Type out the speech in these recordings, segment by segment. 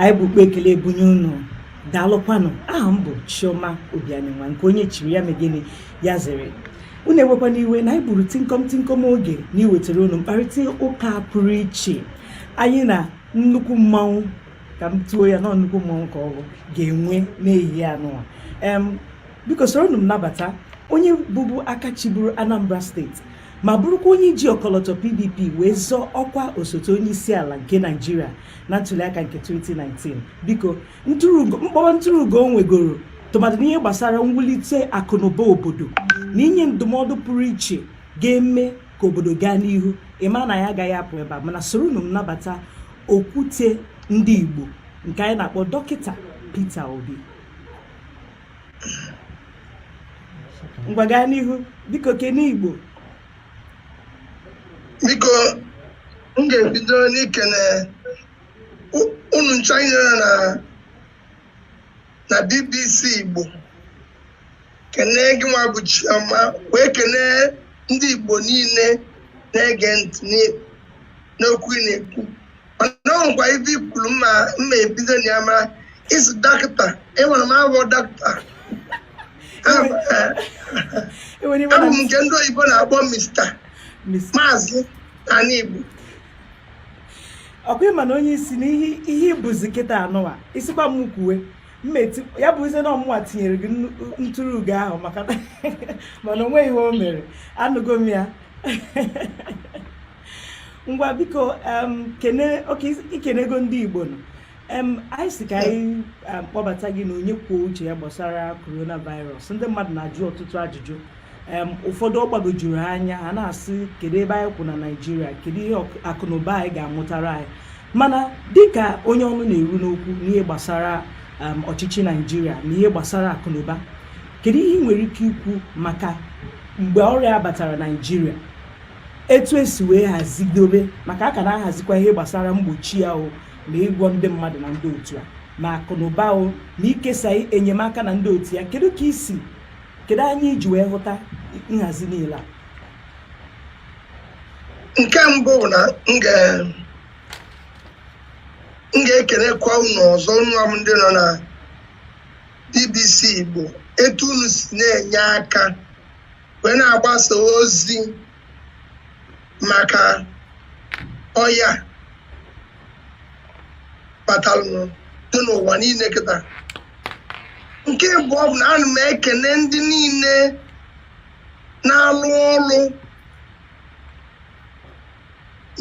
anyị bu ụkpa ekele ebunye unu daalụkwanụ aha m bụ chioma obianinwa nke onye chiri ya megịnị ya zere unu ewekwana iwe na anyị gburu tinkom tinkom oge n'iwetara unu mkparịta ụka pụrụ iche anyị na nnukwu mmanwụ ka m tuo ya na nnukwu mmanwụ ka ọ bụ ga-enwe n'ehihie anụwa biko soronụ m nabata onye bụbu aka chiburu anambra steeti ma bụrụkwa onye ji ọkọlọtọ PDP wee zọọ ọkwa osote onye isi ala nke Naịjirịa na ntuliaka nke 2019 biko m kpọba ntụrụugo o nwegoro tụmadị n'ihe gbasara mwulite akụnụba obodo na inye ndụmọdụ pụrụ iche ga-eme ka obodo gaa n'ihu ị ma na anyị agaghị apụ ebe a mana soronụ m nabata okwute ndị Igbo nke anyị na-akpọ dọkịta Peter Obi ngwa gaa n'ihu biko kene igbo biko m ga-ebido n'ikene unu ncha here na na bbc igbo kene gịnwa bụ chioma wee kene ndị igbo niile na-ege ntị n'okwu ị na-ekwu mana o nwekwa ife i kwuru mma mma ebido na ya mara ị sị dọkịta enwere m abụ dọkịta enwere ibe abụ m na nke ndị oyibo na-akpọ mista Miss maazị n'ala igbo ọ kwa ị ma na onye isi na ihe ihe ị bụzi kịta anụwa ị sịkwa m kwuwe mma eti ya bụ ize na ọ mụnwa tinyere gị nnu- ntụrụ ugo ahụ maka na mana o nweghị ihe o mere anụgo m ya ngwa biko i kenego ndị Igbo nnọọ anyị sị ka anyị kpọbata gị na onye kwuo uche ya gbasara coronavirus ndị mmadụ na-ajụ ọtụtụ ajụjụ ụfọdụ ọ gbagojuru anya ha na-asị kedu ebe anyị kwụ na Naịjirịa kedu ihe akụnụba anyị ga-amụtara anyị mana dịka onye ọnụ na-eru n'okwu n'ihe gbasara ọchịchị Naịjirịa na ihe gbasara akụnụba kedu ihe ị nwere ike ikwu maka mgbe ọrịa batara Naịjirịa etu e si wee hazidobe maka a ka na-ahazikwa ihe gbasara mgbochi ya o ma ịgwọ ndị mmadụ na ndị otu a ma akụ na ụba o ma ikesa enyemaka na ndị otu ya kedu ka i si kedu anya i ji wee hụta nhazi niile a nke mbụ na m ga-ekelekwa unu ọzọ nwa m ndị nọ na BBC Igbo etu unu si na-enye aka wee na-agbasa ozi maka ọya batalụ dị n'ụwa niile kịta nke bụ ọ bụ na ana m ekene ndị niile na-alụ ọrụ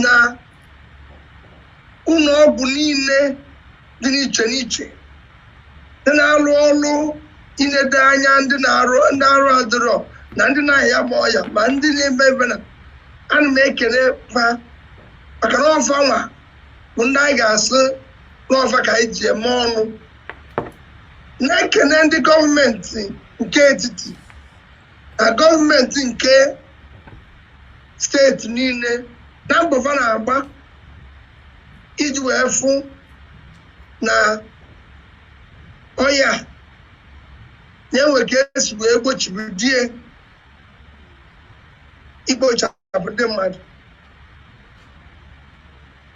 na ụlọ ọgwụ niile dị n'iche n'iche ndị na-arụ ọrụ inede anya ndị na-arụ ndị arụ adịrọ na ndị na-aya ma ọya ma ndị na-eme ebe na ana m ekele fa maka na ọ fa nwa bụ ndị anyị ga-asị na ọ fa ka anyị ji eme ọnụ na-ekele ndị gọọmenti nke etiti na gọọmenti nke steeti niile na mbọ fa na-agba iji wee fụ na ọya na e nwe ka e si wee gbochibido ye ikpochapụ ndị mmadụ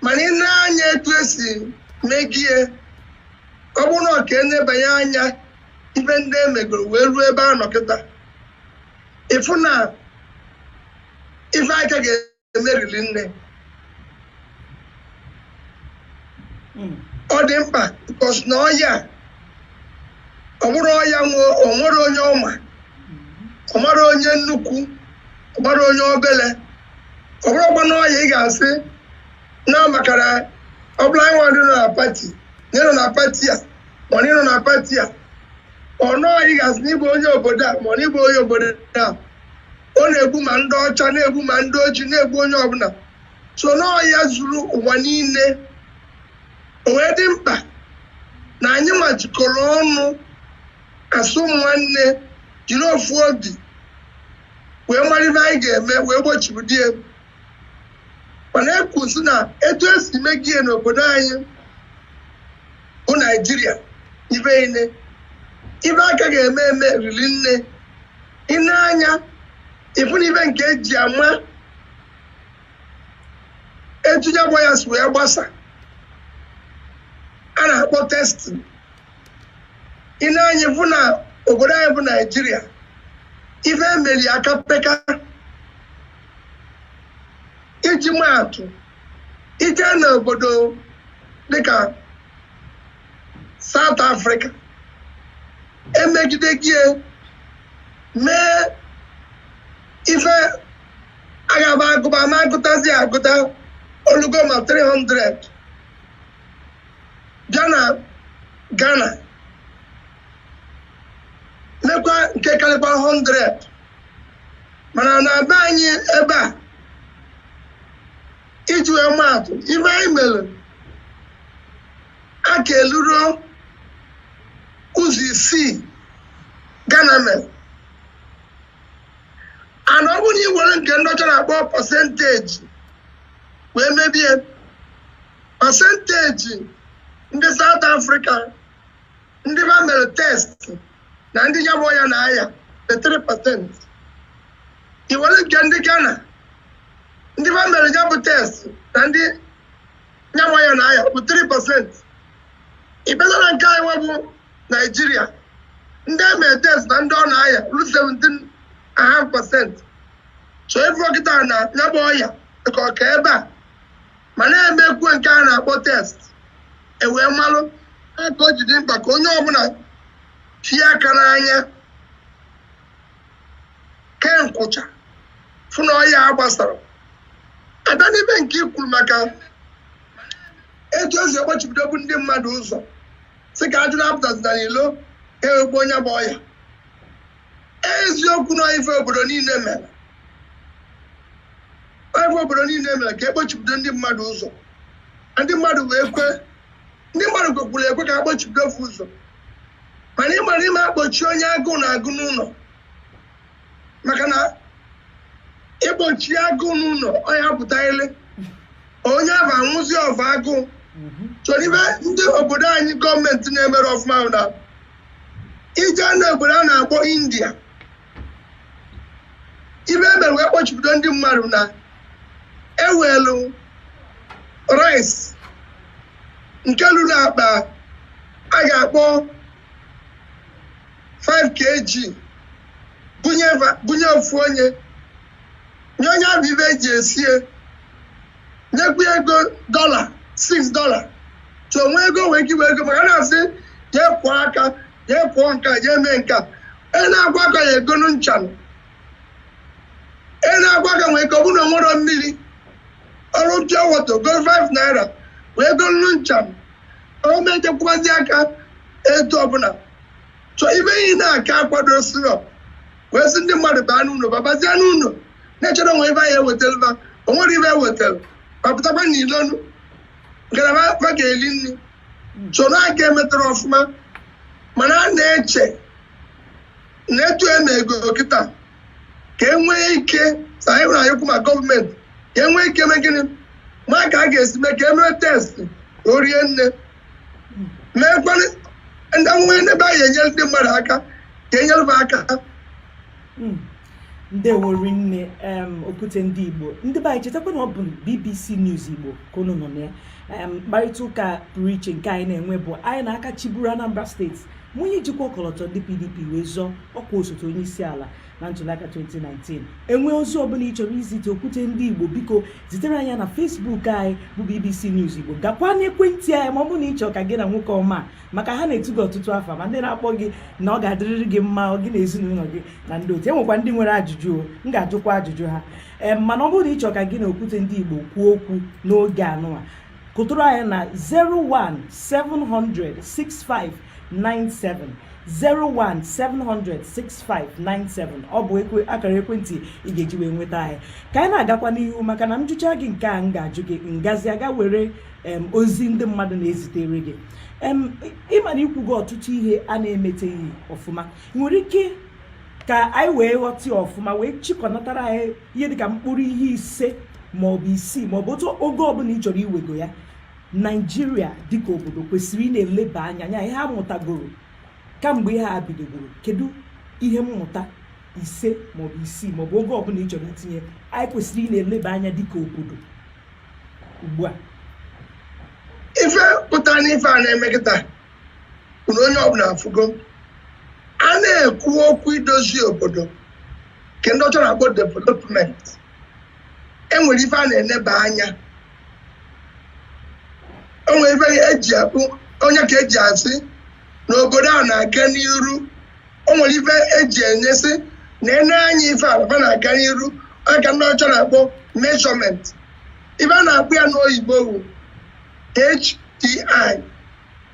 mana i nee anya etu e si megie ọ bụrụ na ọ ka e nebanye anya ife ndị e megoro wee ruo ebe a nọ kịta ị fụ na ife a ka ga eme riri nne hmm. ọ dị mkpa because na ọya ọ bụrọ ọya o nwere onye ọ ma ọ marọ onye nnukwu ọ marọ onye obele ọ bụrọkwanụ ọya ị ga-asị na maka na ọ bụla nwa dị na pati na ị nọ na pati a ma na ị nọ na pati a ọnụ ọya ị ga-asị na ị bụ onye obodo a ma ọ na ị bụ onye obodo a ọ na-egbu ma ndị ọcha na-egbu ma ndị ojii na-egbu onye ọbụla so n'ọya zuru ụwa niile o wee dị mkpa na anyị nwa jikọrọ ọnụ as nwanne jiri ofu obi wee mara ife anyị ga-eme wee gbochibido ya mana e kwuzi na etu e si megie n'obodo anyị bụ naijiria ife i nee ife a ka ga-eme eme riri nne i nee anya ị fụ na ife nke e ji ama etu ya gba ya si wee gbasa a na-akpọ testing i nee anya ị fụ na obodo anyị bụ naijiria ife e meli a ka peka iji maa atụ i je na obodo dịka South Africa e megidego ye mee ife agaba agụba ma agụtazi agụta o lugo ma 300 bịa na Ghana lekwa nke karịkwa 100 mana na be anyị ebe a iji wee maatụ ive anyị mere a ka eluro ụzọ isii Ghana mere ana ọ bụrụ na ị were nke ndị ọcha na-akpọ pasenteji wee mebie pasenteji ndị South Africa ndị va mere test na ndị ya bụ ọya na-aya 3 pasent i were nke ndị Ghana ndị va mere ya bụ test na ndị ya bụ ọya na-aya bụ 3 pasent ị bịazie na nke anyị bụ Naijiria ndị e mere test na ndị ọ na-aya ru 17 and half pasent so ị vụ kịta na ya bụ ọya ka ọ ka ebe a mana e mekwuo nke a na-akpọ test e wee malụ aka o ji dị mkpa ka onye ọbụla tie aka n'anya kee nkwụcha fụ na ọya a gbasara ada n'ime nke i kwuru maka etu e si akpọchibidobu ndị mmadụ ụzọ sị ka ajụ na-apụtazina n'ilo ka e wee gbuo nya bụ ọya eziokwu na ife obodo niile mere ife obodo niile mere ka a kpọchibido ndị mmadụ ụzọ ndị mmadụ wee kwe ndị mmadụ kwekwuru ekwe ka a kpọchibido fa ụzọ mana ị mara ị ma-akpọchi onye agụụ na-agụ n'ụlọ maka na ị kpọchie agụụ n'ụlọ ọ ya-apụta ilo onye ahụ anwụzi ọva agụụ so n'ive ndị obodo anyị gọọmenti na-emerọ ọfụma na i jee na obodo a na-akpọ India ive e mere wee kpọchibido ndị mmadụ na e welu rice nke lulu akpa a ga-akpọ 5 kg bunye ofu onye nye onye ahụ ive e ji esie nyekwa ego dọla 6 dọla so o nwee ego nwee ike inwe ego maka na a sị jee kwọọ aka jee kwọọ nka jee mee nka ị na-agwa ka ya egonu nchanụ ị na-agwa ka nwee ike ọ bụrụ na o nwerọ mmiri ọrụ pure water go 5 naira wee gonu nchanụ ọ ma ejekwazi aka etu ọbụla so ive anyị na-aka akwadosirọ wee sị ndị mmadụ baa n'ụlọ babazie n'ụlọ na-echedo onwe ibe anyị ewetara ba o nwere ibe ewetara ba pụtakwa n'ilo na ngalaba ba ga-eli nri soro aka emetara ọfụma mana a na-eche na etu e mego kịta ka e nwee ike sa anyị nwere anyekwu ma gọọmenti ka e nwee ike mee gịnị ma ka a ga-esi mee ka e mee test ka o rie nne meekwanụ ndị nwee n'ebe anyị enyere ndị mmadụ aka ka enyere ba aka ndewo rinne em okwute ndị igbo ndị be anyị chetakwa na ọ bụ bbc news igbo ka unu nọ na ya em mkparịta ụka pụrụ iche nke anyị na-enwe bụ anyị na aka chịburu anambra steeti na onye jikwa ọkọlọtọ ndị pdp wee zọọ ọkwa osote onye isi ala na ntụliaka 2019 enwee ozi ọbụla ị chọrọ izite okwute ndị igbo biko zitere anyị na facebook anyị bụ bbc news igbo gakwa n'ekwentị anyị ma ọ bụrụ na ị chọrọ ka gị na nwoke ọma maka ha na-etu gị ọtụtụ afa ma ndị na-akpọ gị na ọ ga-adịrịrị gị mma gị na ezinụlọ gị na ndị otu enwekwa ndị nwere ajụjụ o m ga-ajụkwa ajụjụ ha ee mana ọ bụrụ na ị chọ ka gị na okwute ndị Igbo kwuo okwu n'oge anụwa kụtụrụ anyị na 017006597 017006597 ọ bụ akara ekwentị ị ga-eji wee nweta anyị ka anyị na-agakwa n'ihu maka na m jụcha gị nke a m ga-ajụ gị m gazie aga were ozi ndị mmadụ na-ezitere gị ị ma na i kwugo ọtụtụ ihe a na-emeteghị ọfụma nwere ike ka anyị wee ghọta ọfụma wee chịkọnatara anyị ihe dịka mkpụrụ ihe ise maọbụ isii maọbụ ogo ọbụla ị chọrọ iwego ya naijiria dịka obodo kwesịrị ị na-eleba anya n'ihe a mụtagoro kamgbe ihe a bidogoro kedu ihe mmụta ise maọbụ isii maọbụ ogo ọbụla ị chọrọ itinye anyị kwesịrị ị na-eleba anya dịka obodo ugbu a ife pụtara n'ife a na-eme kịta bụ na onye ọbụna afụgo a na-ekwu okwu idozi obodo nke ndị ọcha na-akpọ development enwere ife a na-eneba anya enwere ife eji atụ ọ nya ka eji asị na obodo a na-aga n'iru o nwere ife eji ene sị nenee anya ife ala ba na-aga n'iru aka ndị ọcha na-akpọ measurement ife a na-akpọ ya n'oyibo bụ HDI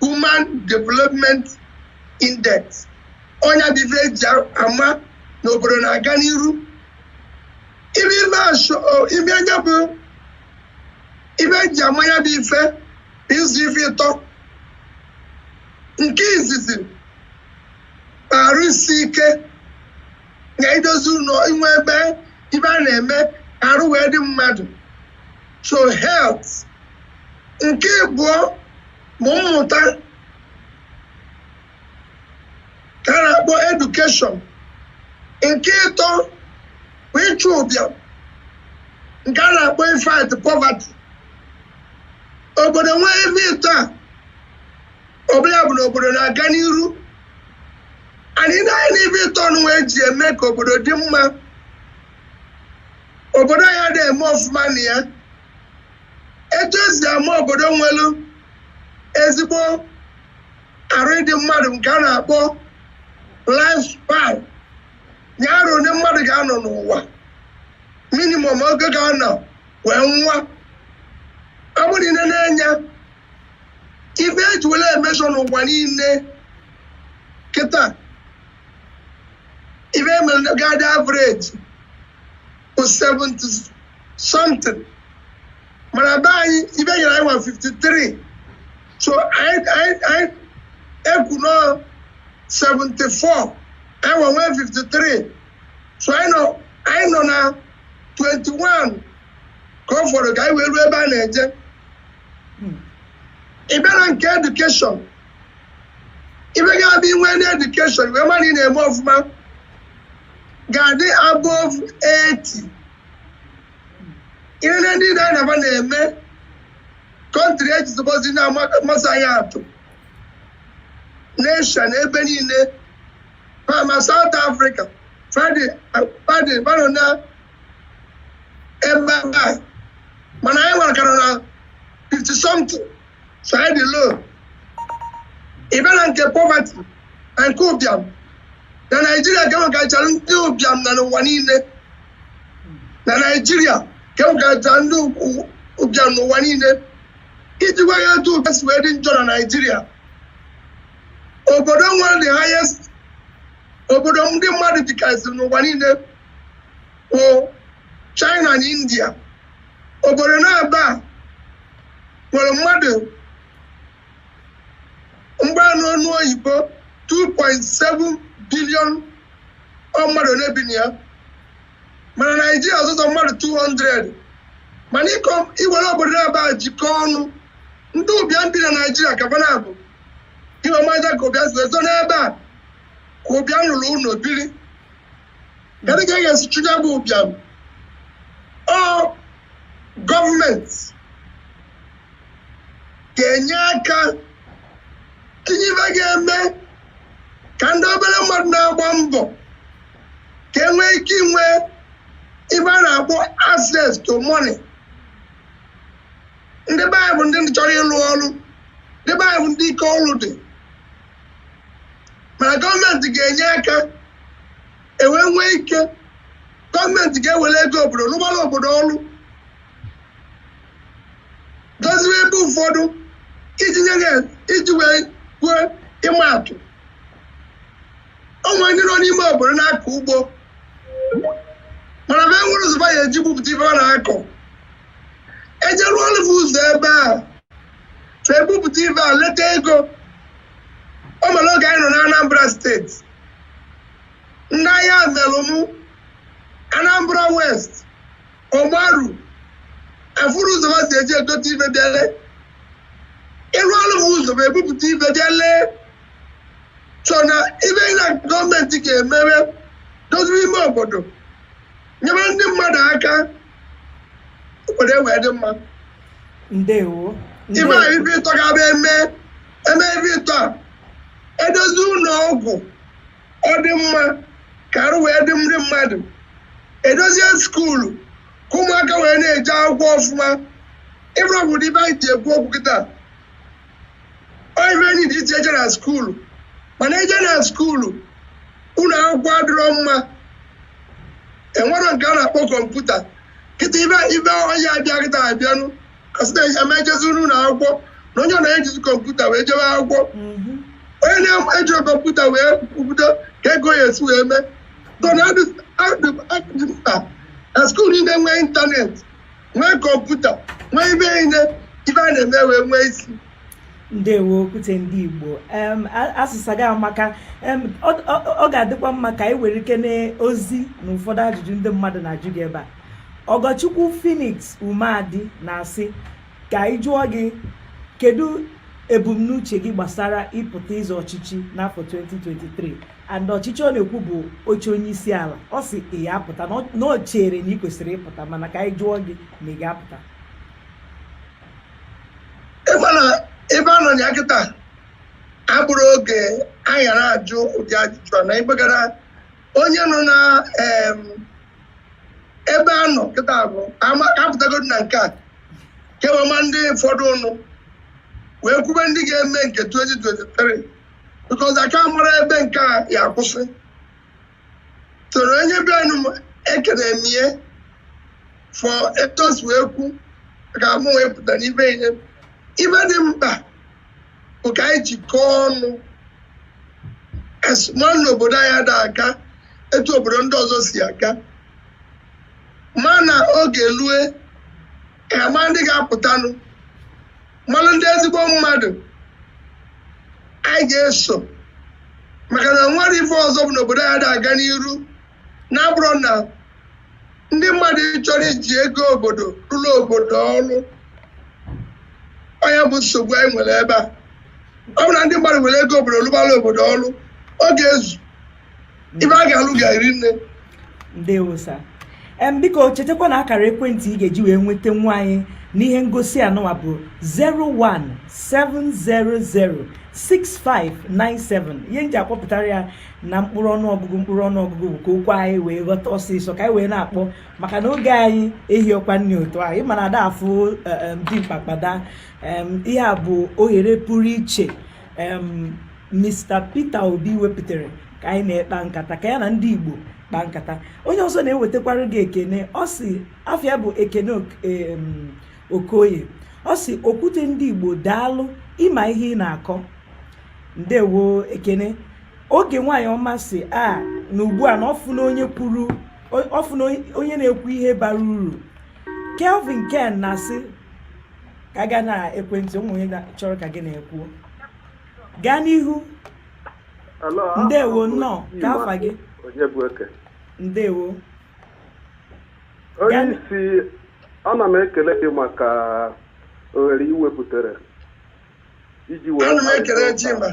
Human Development Index ọ nya bụ ife eji ama na obodo na-aga n'iru ibe ife asho ibe ọ nya bụ ife eji ama ya bụ ife bụ izu ife ịtọ nke izizi arụ isi ike na idozi ụlọ inwe ebe ife a na-eme ka arụ wee dị mmadụ so health nke ịbụọ bụ mmụta nke a na-akpọ education nke ịtọ bụ ịchụ ụbịam nke a na-akpọ ịfight poverty obodo nwee ife ịtọ a ọ bụ ya bụ na obodo na-aga n'iru and ị nee anya n'ife ịtọ nụnwa eji eme ka obodo dị mma obodo anyị adịghị eme ọfụma na ya etu esi ama obodo nwelu ezigbo arụ ịdị mmadụ nke a na-akpọ life span arọ one mmadụ ga-anọ n'ụwa minimum oge ọ ga-anọ wee nwụọ ọ bụrụ na ị nene anya ife eji were measure n'ụwa niile kịta ife emere ga-adị average bụ 70 something mana be anyị ife enyere anyị bụ 53 so ekwuo na ọ 74 anyị nwe 53 so anyị nọ na 21 ka ọ fọrọ ka anyị wee ruo ebe a na-eje ị bịa na nke education ife ga-adị inwe na education wee mara na ị na-eme ọfụma ga-adị above 80 ihe ndị na-anaba na-eme country eji zụbọzi na-amasị anyị atụ n'Asia na ebe niile ma ma South Africa fa adị fa adịbarọ na ebe a mana anyị nwa ka ra na 50 something so anyị dị low ị bịa na nke poverty na nke ụbịam na naijiria ka enwekachara ndị ụbịam n'ụwa niile na naijiria ka enwekachara ndị ukwu- ụbịam n'ụwa niile iji gwa ya etu ụbịam si wee dị njọ na naijiria obodo nwere the highest obodo ndị mmadụ dịkarịsịrị n'ụwa niile wụ China na India obodo naabọ nwere mmadụ mgbanụ ọnụ oyibo 2.7 billion mmadụ na-ebi na ya mana Naijiria ọ sọsọ mmadụ 200 mana ịkọ iwere obodo naabọ jikọọ ọnụ ndị ụbịam bi na Naijiria ka fa nya bụ ị wee mara ka ụbịam si wee zọ n'ebe a ka ụbịam rụrụ ụlọ biri Kedu ka a ga-esi chụọ ya bụ ụbịam? Ọ gọọmenti ga-enye aka tinye ife ga-eme ka ndị obere mmadụ na-agba mbọ ka e nwee ike inwe ife a na-akpọ access to money. Ndị be anyị bụ ndị chọrọ ịlụ ọrụ, ndị be anyị bụ ndị ike ọrụ dị. mana gọọmenti ga-enye aka e wee nwee ike gọọmenti ga-ewere ego obodo rụgbara obodo ọrụ doziwe ebe ụfọdụ iji nye ha iji wee kwuo ịma atụ o nwee ndị nọ n'ime obodo na-akọ ugbo mana be enwerọ ụzọ be ya-eji bupụta ife ọ na-akọ e je rụọrụ be ụzọ ebe a so ebupụta ife a leta ego o mere oge anyị nọ na anambra steeti ndị ayamelum anambra west ogbaru afụrọ ụzọ ha si eji ebute ife be lee ị rụọrụ be ụzọ be ebupụta ife be lee so na ife na gọọmenti ga-emere doziri ime obodo nyere ndị mmadụ aka obodo ewee dị mma ndewo ife a ife ịtọ ga-abụ e mee e mee ife ịtọ a e dozie ụlọ ọgwụ ọ dị mma ka arụ wee dị ndị mmadụ e dozie skuulu ka ụmụaka wee na-eje akwụkwọ ọfụma ọ bụrụgodu ife anyị ji ekwu okwu kịta ọ ife enyi dị iche eje na skuulu mana eje na skuulu ụlọ akwụkwọ adịrọ mma enwerọ nke a na-akpọ kọmputa kịta ife ife onye abịa kịta abịanụ kasịta eme ejezi n'ụlọ akwụkwọ na onye ọ na-ejizi kọmputa wee jebe akwụkwọ onye na-eji kọmputa wee kwupụta ka ego ya esi wee mee so na ọ dị mkpa na skuulu niile nwee ịntanetị nwee kọmputa nwee ife niile ife a na-eme wee nwee isi ndewo okwute ndị igbo asịsa gị amaka ọ ga-adịkwa mma ka anyị were ike n'ozi na ụfọdụ ajụjụ ndị mmadụ na-ajụ gị ebe a ọgọchukwu phoenix umeadi na-asị ka anyị jụọ gị kedu ebumnuche gị gbasara ịpụta ịzọ ọchịchị n'afọ 2023 and ọchịchị ọ na-ekwu bụ oche onye isi ala ọ sị ị ya-apụta na o chere na ị kwesịrị ịpụta mana ka anyị jụọ gị ma ị ga-apụta ị ma na ebe a nọ ya kịta abụrọ oge anyị gaara ajụ ụdị ajụjụ a na ịgbegara onye nọ na ebe a nọ kịta bụ a pụtagodi na nke a ka e wee ma ndị fọdụrụnụ wee kwube ndị ga-eme nke 2023 because aka mara ebe nke a ya akwụsị toro onye bịanụ m ekene m ihe fọrọ e tosi wee kwu ka mụ wee pụta n'ive ihe ive dị mkpa bụ ka anyị jikọọ ọnụ ma na obodo anyị ada aga etu obodo ndị ọzọ si aga mana oge lue ka a ma ndị ga-apụtanụ malụ ndị ezigbo mmadụ anyị ga-eso maka na enwerọ ife ọzọ bụ n'obodo anyị ada aga n'iru na-abụrọ na ndị mmadụ achọrọ iji ego obodo rụọrọ obodo ọrụ ọ nya bụ nsogbu anyị nwere ebe a ọ bụ na ndị mmadụ were ego obodo rụbara obodo ọrụ ọ ga-ezu ive a ga-alụ ga-eri nne ndewo sa em biko chetakwa na akara ekwentị ị ga-eji wee nweta nwa anyị n'ihe ngosi a nụwa bụ 017006597 ihe m ji akpọpụtara ya na mkpụrụ ọnụọgụgụ mkpụrụ ọnụọgụgụ bụ ka okwu anyị wee ghọta ọsịsọ ka anyị wee na-akpọ maka na oge anyị ehirọkwa nne otu ahụ ị ma na ada afụ e, e, dimkpa kwa daa ihe a bụ ohere pụrụ iche Mr. Peter Obi wepụtara ka anyị na ya kpa nkata ka ya na ndị Igbo kpa nkata onye ọzọ na-ewetakwara gị ekene ọ sị afa ya bụ Ekene Okoye ọ sị Okwute ndị Igbo daalụ ị ma ihe ị na-akọ ndewo Ekene Oge nwaanyị ọma sị a na ugbu a na ọ fụna onye kwuru ọ fụna onye na-ekwu ihe bara uru Kelvin Ken na-asị ka a gaa na ekwentị o nwee onye chọrọ ka gị na ya kwuo gaa n'ihu ndewo nnọọ kee afa gị ndewo onye isi ana m ekele gị maka ohere ị wepụtara iji wee ana m ekele Chima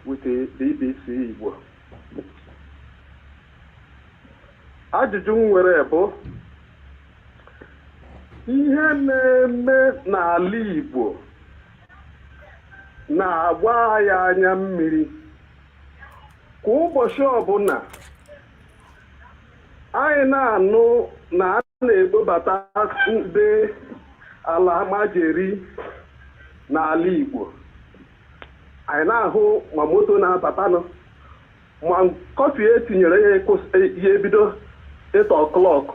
with the BBC Igbo ajụjụ m nwere bụ ihe na-eme n'ala Igbo na-agba anyị anya mmiri kwa ụbọchị ọbụla anyị na-anụ na a na-ekpobata ndị alamajeri n'ala Igbo anyị na-ahụ ma moto na-abatanụ ma curfew e tinyere ya ịkwụsị ya ebido eight o'clock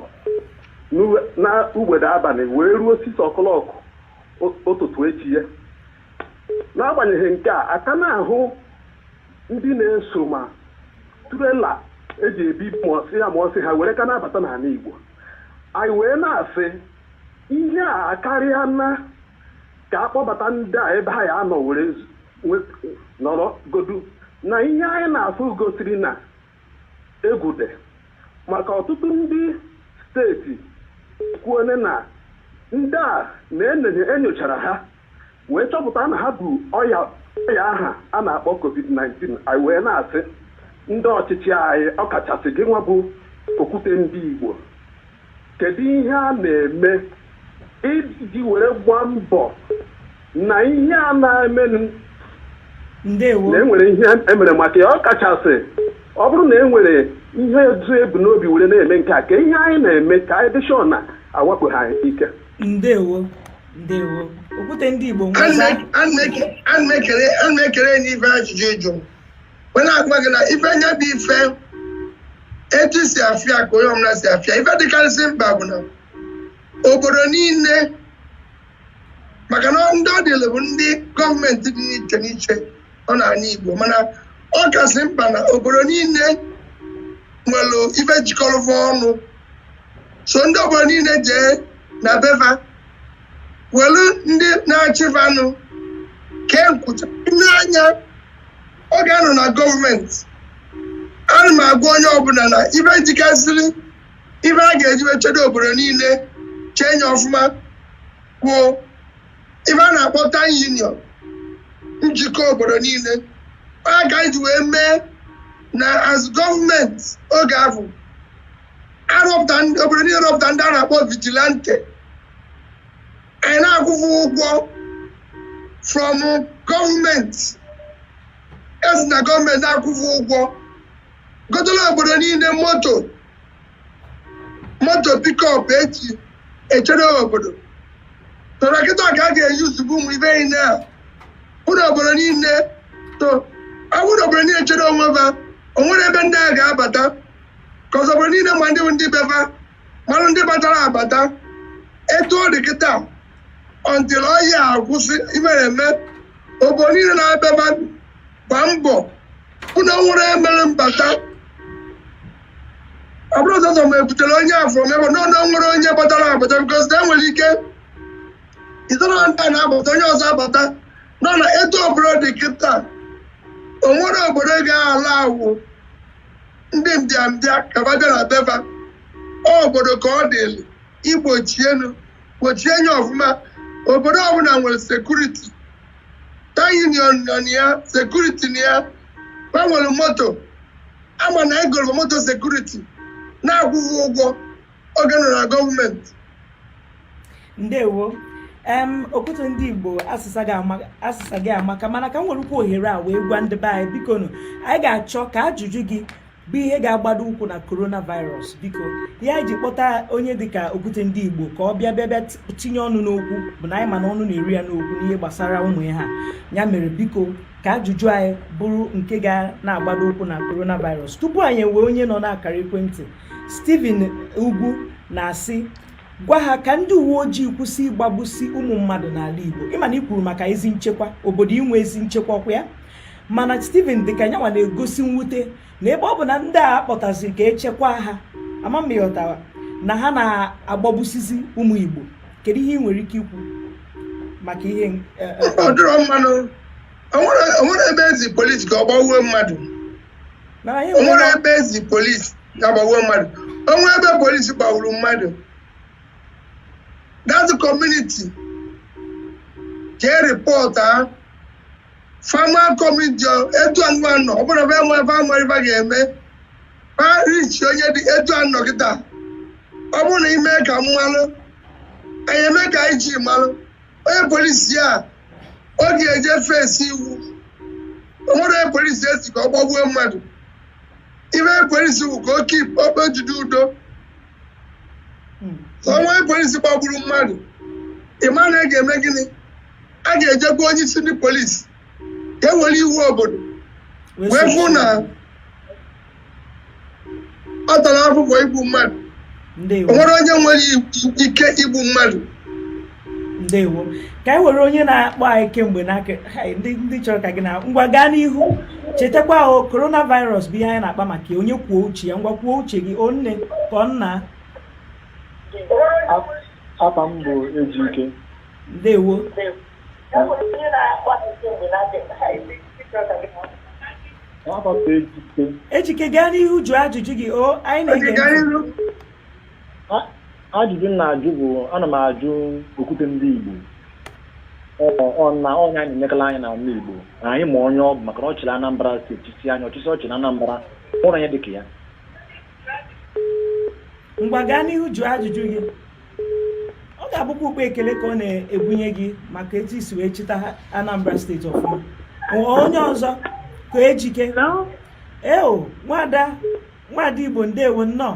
n'u- na ugbede abalị wee ruo six o'clock ụ- ụtụtụ echi ya n'agbanyeghị nke a a ka na-ahụ ndị na-eso ma trailer e ji ebu mụọsị ya mụọsị ha were ka na-abata n'ala Igbo anyị wee na-asị ihe a akarịa na ka a kpọbata ndị a ebe ha ya anọ were zu- nọrọ godu na ihe anyị na-afụ gosiri na egwu dị maka ọtụtụ ndị steeti kwuole na ndị a na-enenye enyochara ha wee chọpụta na ha bu ọya ọya aha a na-akpọ covid-19 anyị wee na-asị ndị ọchịchị anyị ọkachasị gị nwa bụ okwute ndị Igbo Kedụ ihe a na-eme iji were gbaa mbọ na ihe a na-emenụ ndewo na enwere ihe emere maka ya ọ kachasị ọ bụrụ na enwere ihe ezu ebu n'obi were na-eme nke a ka ihe anyị na-eme ka anyị dị sure na awakpo ha ike ndewo ndewo okwute ndị igbo nweza ana m ekele n'ife ajụjụ ị jụ wee na-agwa gị na ife nya bụ ife etu i si afụ ya ka onye ọbụla si afụ ya ife dịkarịsị mkpa bụ na obodo niile maka na ndị ọ dịlị bụ ndị gọọmenti dị n'iche n'iche ọ n'anị Igbo mana ọ kasị mkpa na obodo niile nwere ife jikọrọ va ọnụ so ndị obodo niile jee na be va welu ndị na-achị vanụ kee nkwụcha nee anya oge a nọ na gọọmenti ana m agwa onye ọbụla na ife jikasịrị ife a ga-eji wee chedo obodo niile chee nya ọfụma bụ ife a na-akpọ town union njikọ obodo niile ọ ka e ji wee mee na as gọọmenti oge ahụ arọpụta ndị obodo niile rọpụta ndị a na-akpọ vigilante anyị na-akwụ va ụgwọ from gọọmenti e si na gọọmenti na-akwụ va ụgwọ gotela obodo niile moto moto pikọp e ji echere obodo tọrọ kịta ka a ga-eji ozugbo ụmụ ife niile a ụlọ obodo niile to awụrụ obodo niile chere onwe va o nwerọ ebe ndị a ga-abata ka obodo niile ma ndị bụ ndị be fa mara ndị batara abata etu ọ dị kịta until ọya akwụsị imere eme obodo niile na-abịaba gba mbọ hụ na nwere emere mbata ọ bụrụ ụzọ ma ebutere onye afọ mebe na ọnụ nwere onye batara abata bikos na enwere ike ịzọrọ ndị a na-abata onye ọzọ abata nọ na etu ọbụla dị kịta o nwere obodo ga-ala awụ ndị mbịambịa ka va bịara be va obodo ka ọ dịlị igbochienu gbochie nya ọfụma obodo ọbụla nwere sekuriti town union nọ na ya sekuriti na ya ha nwere moto a ma na e goro moto sekuriti na-akwụ ha ụgwọ oge m nọ na gọọmenti ndewo em okwute ndị igbo asịsa gị amaka mana ka m werekwuo ohere a wee gwa ndị be anyị biko nụ anyị ga-achọ ka ajụjụ gị bụ ihe ga-agbado ụkwụ na coronavirus biko ihe anyị ji kpọta onye dịka okwute ndị igbo ka ọ bịa bịa bịa tinye ọnụ n'okwu bụ na anyị ma na ọnụ na-eru ya n'okwu n'ihe gbasara ụmụ ihe a ya mere biko ka ajụjụ anyị bụrụ nke ga na-agbado ụkwụ na coronavirus tupu anyị ewee onye nọ n'akara ekwentị Stephen Ugwu na-asị gwa ha ka ndị uwe ojii kwụsị ịgbagbusi ụmụ mmadụ n'ala Igbo ịma na ị kwuru maka ezi nchekwa obodo inwe ezi nchekwa ọkwa ya mana Stephen dịka nyanwa na-egosi mwute na ebe ọ bụ na ndị a kpọtaziri ka e chekwa ha ama ma ị ghọtara na ha na-agbagbusizi ụmụ Igbo kedu ihe ị nwere ike ikwu maka ihe e, e, ọ dịrọ mma nụ o nwere ebe e zi polisi ka ọ gbawuo mmadụ na anyị o nwere nwere ebe e zi polisi gaa gbawuo mmadụ o nwere ebe polisi gbagburu mmadụ that community jee report ha fama community etu anyịnwa nọ ọ bụrụ ebe enwe ebe ama ibe ga-eme ha reach onye dị etu a nọ kịta ọ bụrụ na i me ka m malụ anyị eme ka anyị ji malụ onye polisi a ọ ga-eje face iwu o nwere onye polisi e si ka ọ gbagbuo mmadụ ife polisi bụ ka o keep ka o jide udo o nwee polisi gbagburu mmadụ ịma na a ga-eme gịnị a ga-ejekwa onye isi ndị polisi ka e were iwu obodo wee fụ na ọ tara afụfụ igbu mmadụ o nwere onye nwere ike igbu mmadụ ndewo ka anyị were onye na-akpọ anyị kemgbe n'aka ndị chọrọ ka gị na ngwa gaa n'ihu chetakwa o coronavirus bụ ihe anyị na-akpa maka onye kwuo uche ya ngwa kwuo uche gị ọ nne ka ọ nna afa m bụ Ejike ndewo Ejike gaa n'ihu jụọ ajụjụ gị o anyị na-ege ajụjụ m na-ajụ bụ ana m ajụ okwute ndị Igbo na onye anyị na-enekala anya na ala Igbo na anyị ma onye ọ bụ maka na ọ chịrị Anambra steeti si anyị ọchịchị ọ chịrị Anambra afụrọ onye dịka ya ngwa gaa n'ihu jụọ ajụjụ gị ọ ga-abụkwa ụkpa ekele ka ọ na-ebunye gị maka etu i si wee chịta Anambra steeti ọfụma onye ọzọ ka ejike eo nwada nwada Igbo ndewo nnọọ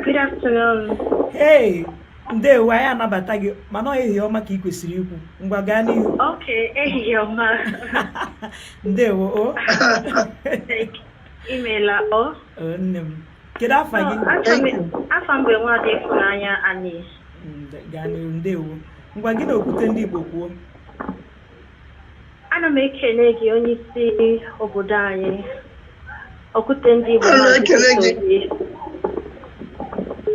Good afternoon. Hey, ndewo anyị anabata gị mana ọ ehihie ọma ka ị kwesịrị ikwu ngwa gaa n'ihu okay ehihie ọma ndewo o imeela o nne m kedu afa gị afa m bụ nwadị ịfụnanya anyị gaa n'iru ndewo ngwa gị na okwute ndị igbo kwuo ana m ekene gị onye isi obodo anyị okwute ndị igbo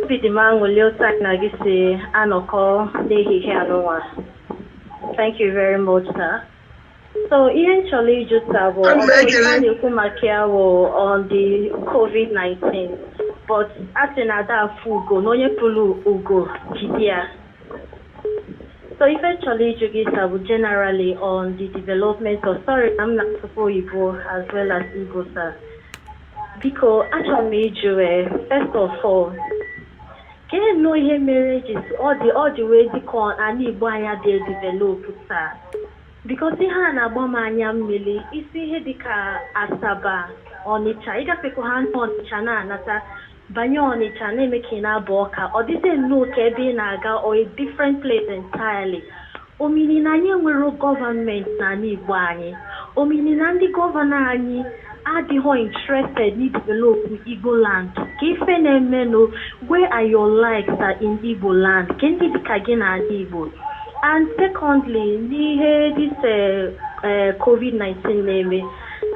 obi dị m aṅụli otu anyị na gị si anọkọ n'ehihie a nụnwa thank you very much sir So ihe m chọrọ ịjụ sa bụ Ana m ọkụ ekele. ife a na-ekwu maka ya bụ on the COVID-19 but a sị na ada afụ ugo na onye fụrụ ugo jide ya. So ife m chọrọ ịjụ gị sa bụ generally on the development of sorry na m na-asụkwa oyibo as well as Igbo sa. Biko achọrọ m ịjụ eh, first of all Keenụ ihe mere eji ọ dị ọ dị wee dị ka anị Igbo anyị adịghị edevelopụ sa bikos ihe a na-agba m anya mmiri ị si ihe dịka Asaba Ọnịcha ị gafekwa ha na Ọnịcha na-anata banye Ọnịcha na-eme ka ị na-aba Ọka ọ dịzie nnọọ ka ebe ị na-aga or a different place entirely Ọ mini na anyị enwerọ gọvanment n'anị Igbo anyị. Ọ mini na ndị gọvanọ anyị adịghọ interested n'i develop Igboland. Kee ife na-emenụ, where are your likes sir in Igboland? Kee ndị dị ka gị n'anị Igbo? And secondly, n'ihe this eh, covid 19 na-eme,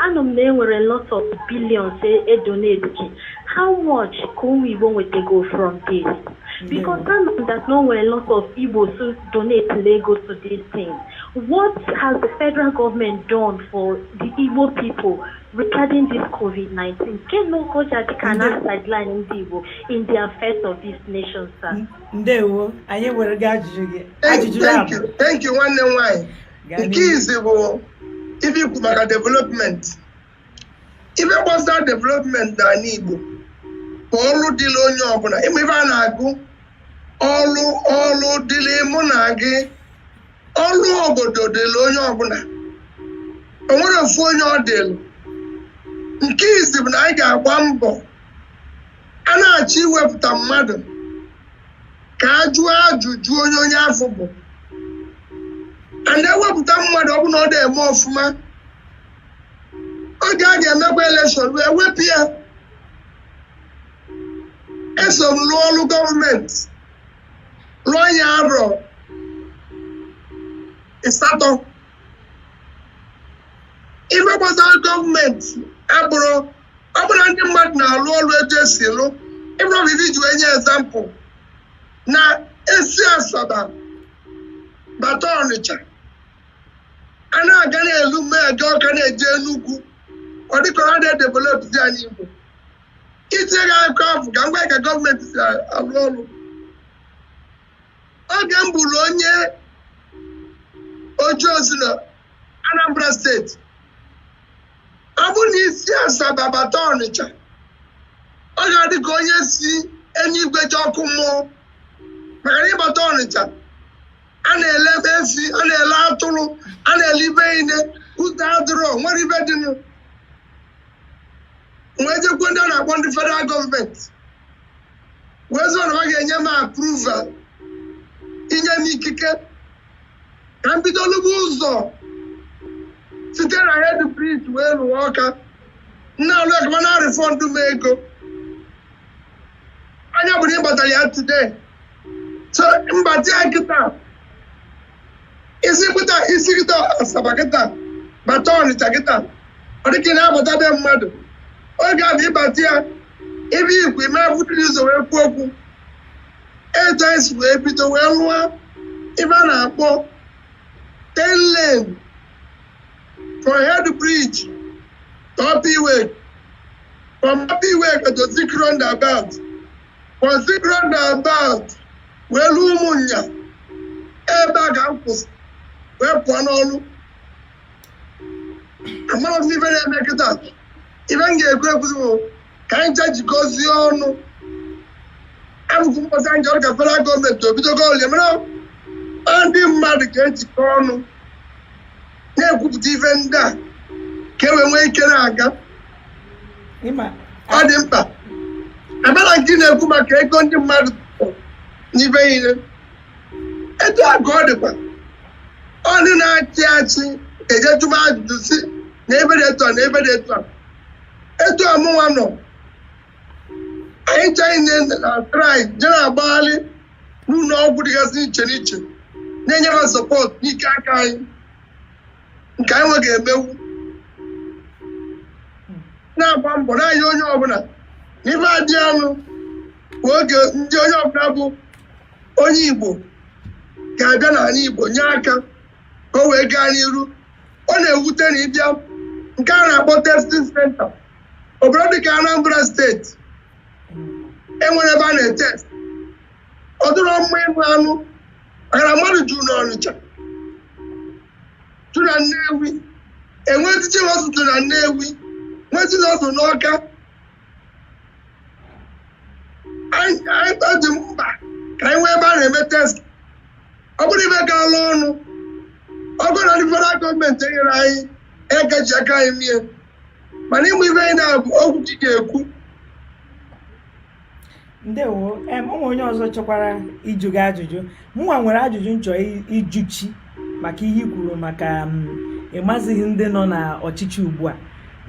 anụ m na enwere lots of billions e donatiri. How much ka ụmụ Igbo nwetego from this? Because I know that na o nwere a lot of Igbos who donatelugo to this thing. What has the federal government done for the Igbo people regarding this COVID-19? Keenụ ka o ji adị ka a na-asideline ndị Igbo in the affairs of this nation, sir? Ndewo, anyị ewerego ajụjụ gị. Ajụjụ ya bụ. Thank you, nwanne m nwaanyị. Nke izizi bụ ife i kwuru maka development. ife gbasara development n'anị Igbo bụ ọrụ dịrị onye ọbụla ị ma ife a na-agụ ọrụ ọrụ dịrị mụ na gị ọrụ obodo dịrị onye ọbụla o nwerọ ofu onye ọ dịrị nke izizi bụ na anyị ga-agba mbọ a na-achọ iwepụta mmadụ ka a jụọ ajụjụ onye onye afụ bụ anyị ewepụta mmadụ ọ bụrụ na ọ dị eme ọfụma oge a ga-emekwa elekshọn wee wepụ ya eso m rụọ ọrụ gọọmenti rụọ ya arọ ịsatọ ife gbasara gọọmenti abụrọ ọ bụrụ ndị mmadụ na-arụ ọrụ etu e si arụ ị fụrụ ife i ji wee nye ezampụ na e si asaba bata ọnịcha a na-aga n'elu na-aga ọka na-eje Enugu ọ dịka a na-edevelopụzi anị Igbo itinye gị akụkọ afụ ka m gwa ka gọọmenti si arụ ọrụ oge m bụrụ onye ọchịchị na Anambra steeti ọ bụrụ na i si Asaba bata Ọnịcha ọ ga-adị ka onye si eluigwe je ọkụ mmụọ maka na ị bata Ọnịcha a na-ele efi a na-ele atụrụ a na-ele ife niine ụzọ adịrọ nwerọ ife dị nụ wee jekwa ndị a na-akpọ ndị federal gọọmenti wee sị na ha ga-enye m approval inye m ikike ka m bido lụba ụzọ site na head bridge wee ruo ọka na-alụ ekama na refọndụ m ego nya ọ bụrụ ị gbatara ya today so m bata ya kịta i si kịta i si kịta asaba kịta bata ọnịcha kịta ọ dịka ị na-abata be mmadụ oge afụ ị bata ya ebe igwe ime abụdịrị ụzọ wee kwuo okwu etu anyị si wee bido wee rụọ ife a na-akpọ ten lane from head bridge to upper iweka from upper iweka to zik roundabout zik roundabout wee ruo ụmụnya ebe a ka m kwụsị wee pụọ n'ọrụ amarọ m ife na-eme kịta ife m ga-ekwu ekwuzi bụ ka anyị je jikọzie ọnụ abụkwu mkpọsa anyị chọrọ ka federal gọọmenti obido gọọmenti mara ndị mmadụ ga-ejikọ ọnụ na-ekwupụta ife ndị a ka e wee nwee ike na-aga ọ dị mkpa a bịa na nke ị na-ekwu maka ego ndị mmadụ n'ibe ihe etu a ka ọ dịkwa onye na-achị achị e je jụba ajụjụ sị na ebe dị etu a na ebe dị etu a etu a mụnwa nọ anyị chaghị na try je na-agbagharị n'ụlọ ọgwụ dịgasị iche n'iche na-enyere support n'ike aka anyị nke anyị nwa ga-emenwu na-agba mbọ na-enye onye ọbụla n'ime adị anụ bụ oge ndị onye ọbụla bụ onye igbo ga-abịa n'anị igbo nye aka ka o wee gaa n'iru ọ na-ewute na ị bịa nke a na-akpọ testing center obodo dịka anambra steeti enwerọ ebe a na-etest ọ dịrọ mma ịnụ anụ maka na mmadụ juru n'ọnịcha tu na Nnewi enwee teaching hospital na Nnewi nwee teaching hospital n'Ọka anyị anyị ọ dị mkpa ka anyị nwee ebe a na-eme test ọ bụrụ ife galụ ọnụ ọ bụrụ na ndị federal gọọmenti enyere anyị aka e ji aka anyị mie mana ịmụ ife ndị a bụ okwu chi ga-ekwu ndewo em o nwee onye ọzọ chọkwara ịjụ gị ajụjụ mụnwa nwere ajụjụ m chọ ịjụ gị maka ihe i kwuru maka ịmazighị ndị nọ na ọchịchị ugbu a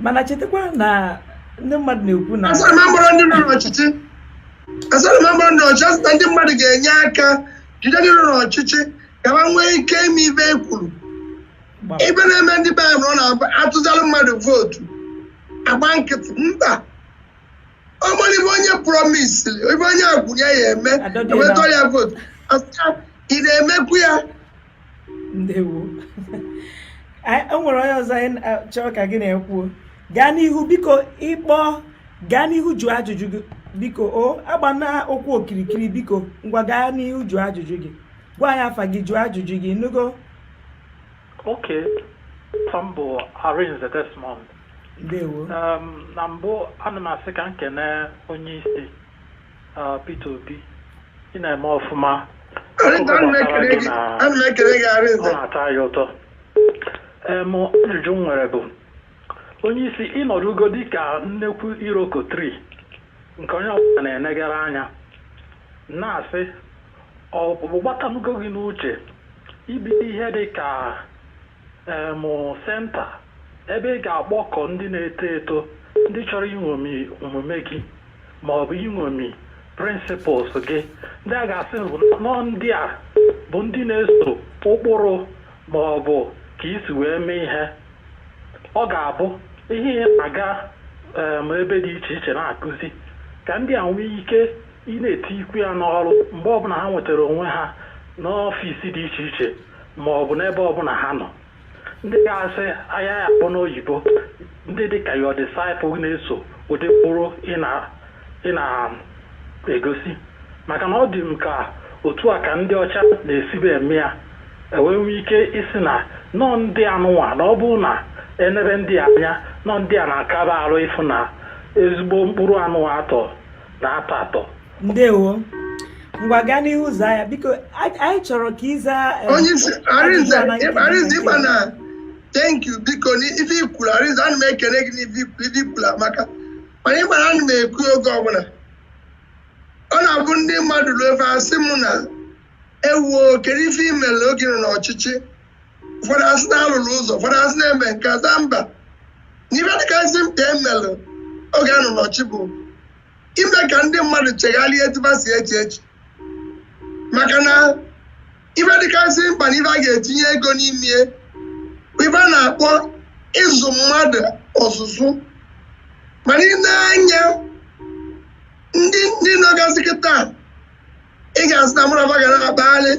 mana chetakwa na ndị mmadụ na-ekwu na asara m agbara ndị nọ n'ọchịchị asara m agbara ndị ọchịchị asị na ndị mmadụ ga-enye aka jide ndị nọ n'ọchịchị ka ha nwee ike ime ife e kwuru ife na-eme ndị be anyị na ọ na a tụsalụ mmadụ vootu agba nkịtị mba ọ mara ife onye promise ife onye kwu ya ya-eme Adọdịela. ewetọ ya votu asị ya ị na-emekwu ya ndewo Anyị- o nwere onye ọzọ anyị na- chọrọ ka gị na-ekwuo gaa n'ihu biko ịkpọ gaa n'ihu jụọ ajụjụ gị biko o agbana ụkwụ okirikiri biko ngwa gaa n'ihu jụọ ajụjụ gị gwa anyị afa gị jụọ ajụjụ gị nugo Okay. Sambo Arinze Desmond. ndewo na mbụ ana m asị ka m kene onye isi Peter Obi ị na-eme ọfụma na-atọ anyị ụtọ em ajụjụ m nwere bụ onye isi ị nọdụgo dịka nnekwu iroko tree nke onye ọbụla na-enegara anya na-asị ọ batanugo gị n'uche ibido ihe dị ka um Center, ebe ị ga-akpọkọ ndị na-eto eto ndị chọrọ iṅomi omume gị ma ọ bụ iṅomi principles gị ndị a ga-asị nọọ ndị a bụ ndị na-eso ụkpụrụ ma ọ bụ ka i si wee mee ihe ọ ga-abụ ihe ị na-aga um ebe dị iche iche na-akụzi ka ndị a nwee ike ị na-etikwu ya n'ọrụ mgbe ọbụla ha nwetara onwe ha n'ọfịs dị iche iche ma ọ bụ n'ebe ọbụla ha nọ ndị ga-asị anyị ya-akpọ n'oyibo ndị dị ka your disciple na-eso ụdị ụkpụrụ ị na-egosi maka na ọ dị m ka otu a ka ndị ọcha na-esibu eme ya e wee nwee ike ịsị na nọọ ndị anụnwa na ọ bụrụ na e nebe ndị a anya nọọ ndị a na-akaba arụ ị fụ na ezigbo mkpụrụ anụnwa atọ na atọ atọ ndewo ngwa gaa n'ihu zaa ya biko anyị chọrọ ka ị za eh, onye isi Arinze ịgba na thank you biko n'ife i kwuru Arinze ana m ekele gị n'ife i kwuru amaka mana ị ma na ana m ekwu oge ọbụla ọ na-abụ ndị mmadụ ruo ife asị m na ewo kedu ife i mere oge ị nọ n'ọchịchị ụfọdụ asị na alụrụ ụzọ ụfọdụ asị na-eme nke aza mba na ife dịkasị mkpa emelụ oge a nọ n'ọchịchị bụ ime ka ndị mmadụ chegharịa etu fa si eche eche maka na ife dịkasị mkpa na ife a ga-etinye ego n'ime ya bụ ife a na-akpọ ịzụ mmadụ ọzụzụ mana i nee anya ndị ndị nọgazi kịta ị ga-asị na mụrụ ga na-akpagharị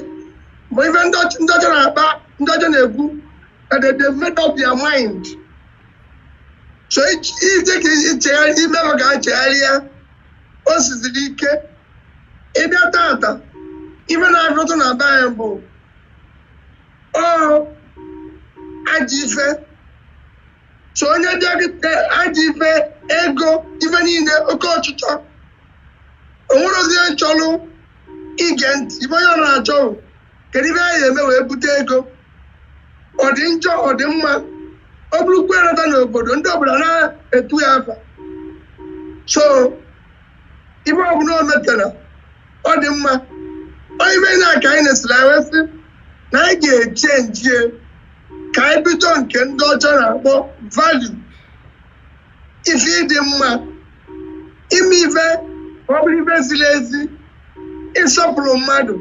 ma ife ndị ọcha na-akpa ndị ọcha na-ekwu that they've made up their mind so iji ka ichegharị ime ma ka ha chegharịa o siziri ike ị bịa tata ife ị na-afụtụ na be anyị bụ sọ ajọ ife so onye bịaghịte ajọ ife ego ife niile oke ọchịchọ o nwerọzi onye chọlụ ige ntị ife onye ọbụla na-achọ bụ, kedu ife anyị eme wee bute ego ọ dị njọ ọ dị mma o burukwa ya nata n'obodo ndị obodo na-etu ya afa so ife ọbụla o metara ọ dị mma ọ ife na-aka anyị na-esiri anyị wee sị na anyị ga-echenji ya ka anyị bido nke ndị ọcha na-akpọ value ife ịdị mma ime ife ka ọ bụrụ ife ziri ezi ịsọpụrụ mmadụ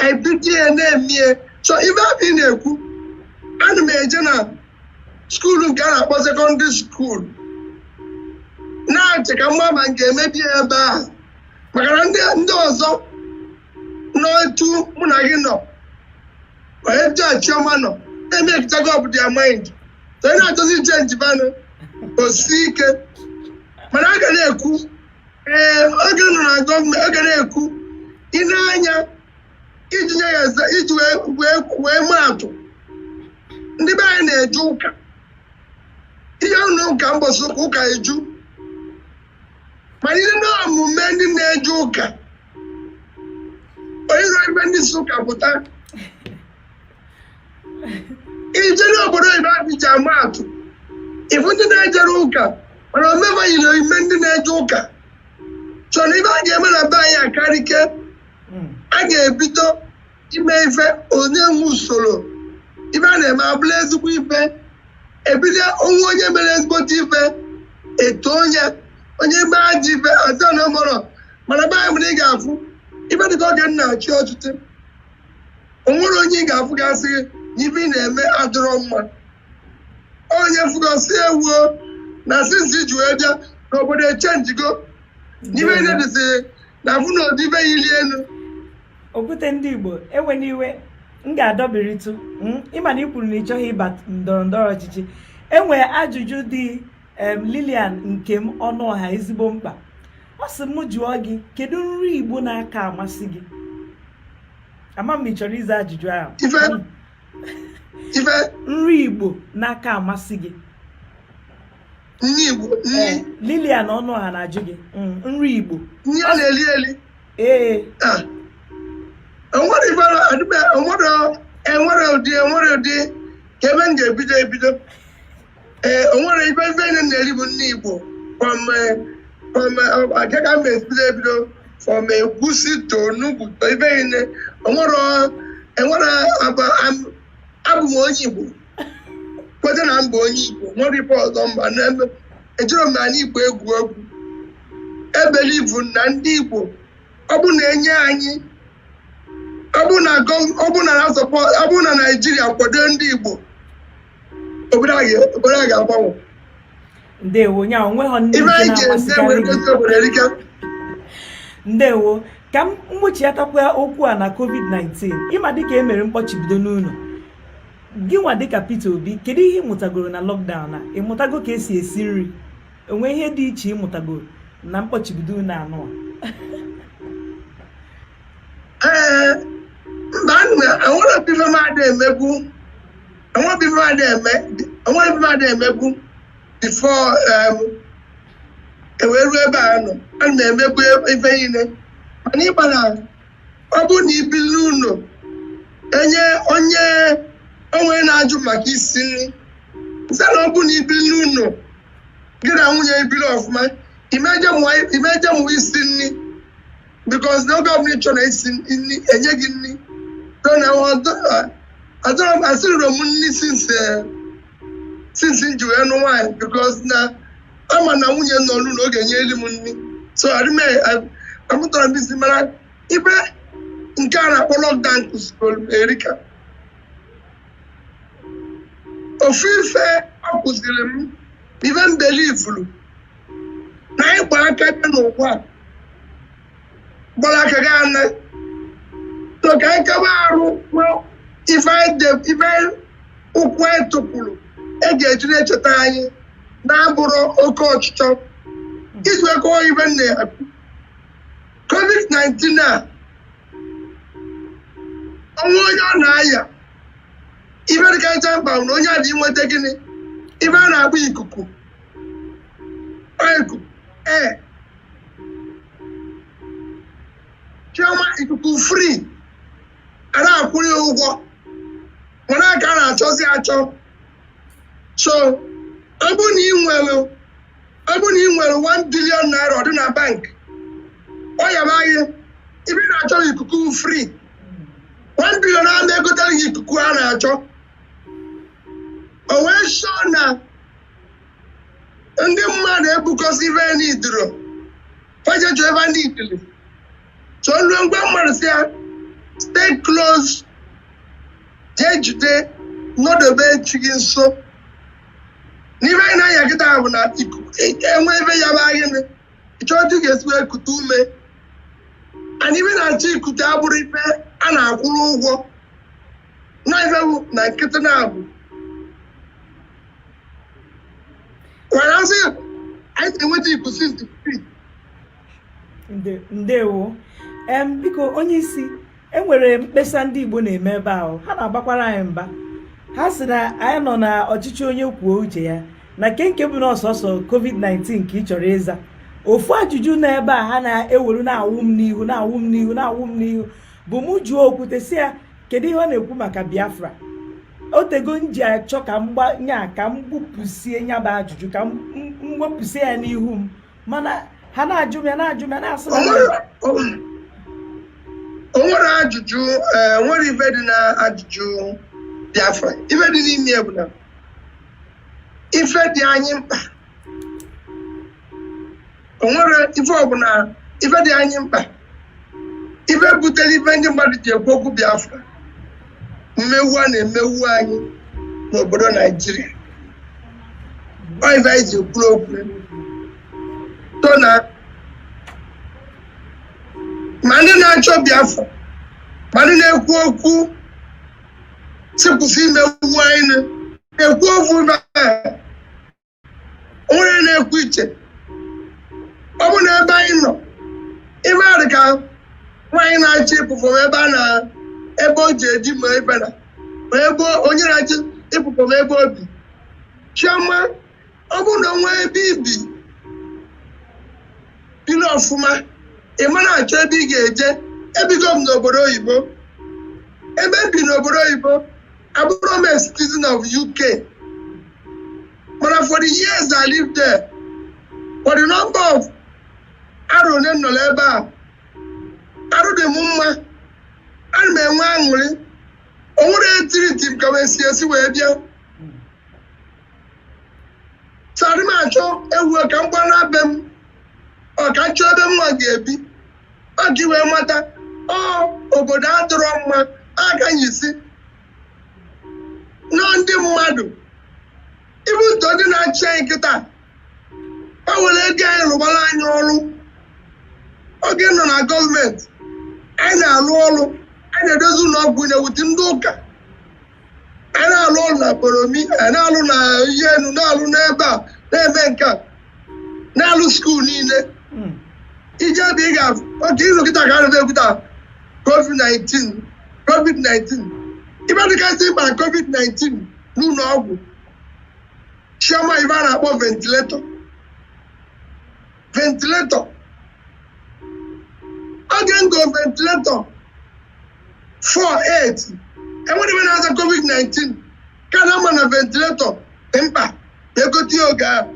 anyị bido ya na-eme ya so ife ahụ ị na-ekwu ana m eje na skuulu nke a na-akpọ sekọndịrị skuulu na-achọ ka m ma ma m ga-ebido ya ebe ahụ maka na ndị ndị ọzọ n'otu mụ na gị nọ n'age chioma nọ emekichago up their mind so onye na-achọzi ichenji fa nụ o si ike mana a ga na-ekwu ee oge m nọ na gọọmenti oge na-ekwu i nee anya iji nye ya eze iji wee wee wee maa atụ ndị be anyị na-eje ụka i je ụlọ ụka mbọsị ụka eju mana i nee omume ndị na-eje ụka o yirọ omume ndị si ụka pụta i je n'obodo oyibo anyị ji ama atụ ị fụ ndị na-ejerọ ụka mana omume fa yiri omume ndị na-eje ụka chọrọ ife a ga-eme na be anyị akarịke a ga-ebido ime ife e nwee usoro ife a na-eme abụrụ ezigbo ife e bido o nwee onye mere ezigbote ife etoo onye onye mee ajọ ife ọzọ na ọ marọ mana be anyị mụrụ ị ga-afụ ife dịka oge m na-achị ọchịchị o nwere onye ị ga-afụ gị sị gị na ife ị na-eme adịrọ mma onye fụ gị sị ewoo na since i ji wee bịa n'obodo echenjigo n'ife na-edezi na afụ na ụdị ife yiri elu okwute ndị igbo ewena iwe m ga-adọbiritụ hmm? ịma na ị kwuru na ị chọghị ịba ndọrọ ndọrọ ọchịchị enwe ajụjụ dị Lilian Nkem Ọnụọha ezigbo mkpa ọ sị m jụọ gị kedu nri igbo na-aka amasị gị ama m ma ị chọrọ ịza ajụjụ ahụ hmm. nri igbo na-aka amasị gị nri igbo nri eh, lilian ọnụọha na-ajụ gị mm, nri igbo nri a na-eli eli ee eh. ah. enwere ibara adịbe enwere enwere ụdị enwere ụdị ka ebe m ga-ebido ebido ee eh, enwere ife ife niile a na-eri bụ nri igbo agaga m ebido ebido from egwusi to onugbu to ife niile enwere abụ m onye igbo kweta na m bụ onye igbo nwere ife ọzọ mba n'ebe ejirọ m anị igbo egwu egwu ebelieve m na ndị igbo ọ bụ na enye anyị ọ bụ na gọ- ọ bụ na na sọpọ- ọ bụ na naijiria kwado ndị igbo obodo a ga- obodo a ga-agbanwe ndewo nya onweghọ ndị ibe nke anyị ga-eme na-amasịkarị were gị gosi obodo erika ndewo ka m kpọchiatakwa okwu a na covid-19 ịma dịka e mere mkpọchibido n'ụnọ gịnwa dịka Peter Obi kedu ihe ịmụtagoro na lockdown a ịmụtago ka esi esi nri o nwe ihe dị iche ịmụtagoro na mkpọchibido n'ụnọ ee mba enwerọ ife m na-adị emebu enwerọ ife m na-adị eme enwerọ ife m na-adị emebu before e wee ruo ebe a nọ ana m emebu ife niile mana ịgbara ọ bụrụ na i bili n'ụnọ enwe onye o nwe na-ajụ maka isi nri sị na ọ bụrụ na i bili n'ụnọ gị na nwunye gị bili ọfụma ị ma eje mụwa ị ma eje mụwa isi nri because na oge ọbụla ị chọrọ isi nri o nye gị nri so na adọrọ m esirọ m nri since eh, since m ji wee nụ nwaanyị because na ama m na nwunye m nọ n'ụnọ na ọ ga-enyeriri m nri so arịme amụtarọ m isi mana ife nke a na-akpọ lockdown kụziri m erika ofu ife ọ kụziri m ife m believe-ulu na anyị gba aka bịa n'ụwa a gbara aka ga-ana so ka anyị kebe arụ kwuo ife anyị de- ife anyị- ụkwụ anyị tụpụrụ e ga-eji na-echeta anyị na-abụrọ oke ọchịchọ iji wee kọwa ife nna ya kwu. covid-19 a o nwe onye ọ na-aya ife dịkacha mkpa bụ na onye a dị inweta gịnị ife a na-akpọ ikuku ọ ikuku ee chioma ikuku free a na-akwụ ya ụgwọ mana aka a na-achọzi achọ so ọ bụ na ị nwere ọ bụ na ị nwere 1 billion naira ọ dị na bank ọ yaba gị ife ị na-achọ bụ ikuku free 1 billion a na-egotere gị ikuku a na-achọ o wee chọọ na ndị mmadụ ebukọsị ibe ya n'iduro fajetu ebe ndị ikili so nruo mgbe mmadụ sị ya stay close jee jide nọdobe chi gị nso n'ife anyị na-aya kịta bụ na ikuku enwe ebe ya bụ anyị nị ịchọ otu ị ga-esi wee kute ume and ife a na-achọ ikute abụrụ ife a na-akwụrụ ụgwọ naivewu na nkịtị na-abụ kwara asị ya anyị na-enweta ibu since the street Nde- ndewo em biko onye isi e nwere mkpesa ndị igbo na-eme ebe ahụ ha na-abakwara anyị mba ha sị na anyị nọ na ọchịchị onye kwuo uche ya na nke nke bụ na ọ sọọsọ covid-19 ka ị chọrọ ịza ofu ajụjụ na ebe a ha na-ewere na-awụ m n'ihu na-awụ m n'ihu na-awụ m n'ihu bụ mụ jụọ okwute sị ya kedu ihe ọ na-ekwu maka biafra o teego m ji achọ ka m gbanya ka m gbupụsie nya bụ ajụjụ ka m wepụsie ya n'ihu m mana ha na-ajụ m ya na-ajụ m ya na-asị o nwere ajụjụ e nwere ife dị na ajụjụ biafra ife dị n'ime ya bụ na ife dị anyị mkpa o nwere ife ọbụla ife dị anyị mkpa ife butere ife ndị mmadụ ji ekwu okwu biafra mmegbu a na-emegbu anyị n'obodo naijiria ọ ife anyị ji ekwu okwu so na ma ndị na-achọ biafra ma ndị na-ekwu okwu sị kwụsị imegbu anyị na-ekwu okwu na onye na-ekwu iche ọ bụ na ebe anyị nọ ife a dị ka nwaanyị na-achị ịpụpụ m ebe a na ebe o ji eji ma ebe na ma ebe onye na-achị ịpụpụ m ebe o bi chioma ọ bụ na o nwee ebe i bi biri ọfụma ị ma na-achọ ebe ị ga-eje ebigo m n'obodo oyibo ebe m bi n'obodo oyibo abụrọ m a citizen of UK mana for the years I lived there for the number of arọ ole m nọrọ ebe a arụ dị m mma ana m enwe aṅụrị o nwere etiriti m ka wee si esi wee bịa so adị m achọ ewu ka m gbara be m ọ ka m chọọ ebe m nwa ga-ebi ka ị wee mata ọ obodo adịrọ mma agaghị si na ndị mmadụ even though ndị na-achị anyị kịta ha were ego anyị rụbara anyị ọrụ oge m nọ na gọọmenti anyị na-arụ ọrụ anyị na-edozi ụlọ ọgwụ na-ewute ndị ụka a na-alụ ọrụ na Boromi a na-alụ na Iyi Enu na-alụ n'ebe a na-eme nke a na-alụ skuul niile Mm. ije ebe ị ga-afụ oke izu kịta ka arụta ekwuta covid-19 covid-19 ife dịkasị mkpa na covid-19 n'ụlọ ọgwụ chioma ife a na-akpọ ventilator ventilator oge m go ventilator 48 enwerọ ife na-aza covid-19 ka na ama na ventilator dị mkpa na-egote ya oge ahụ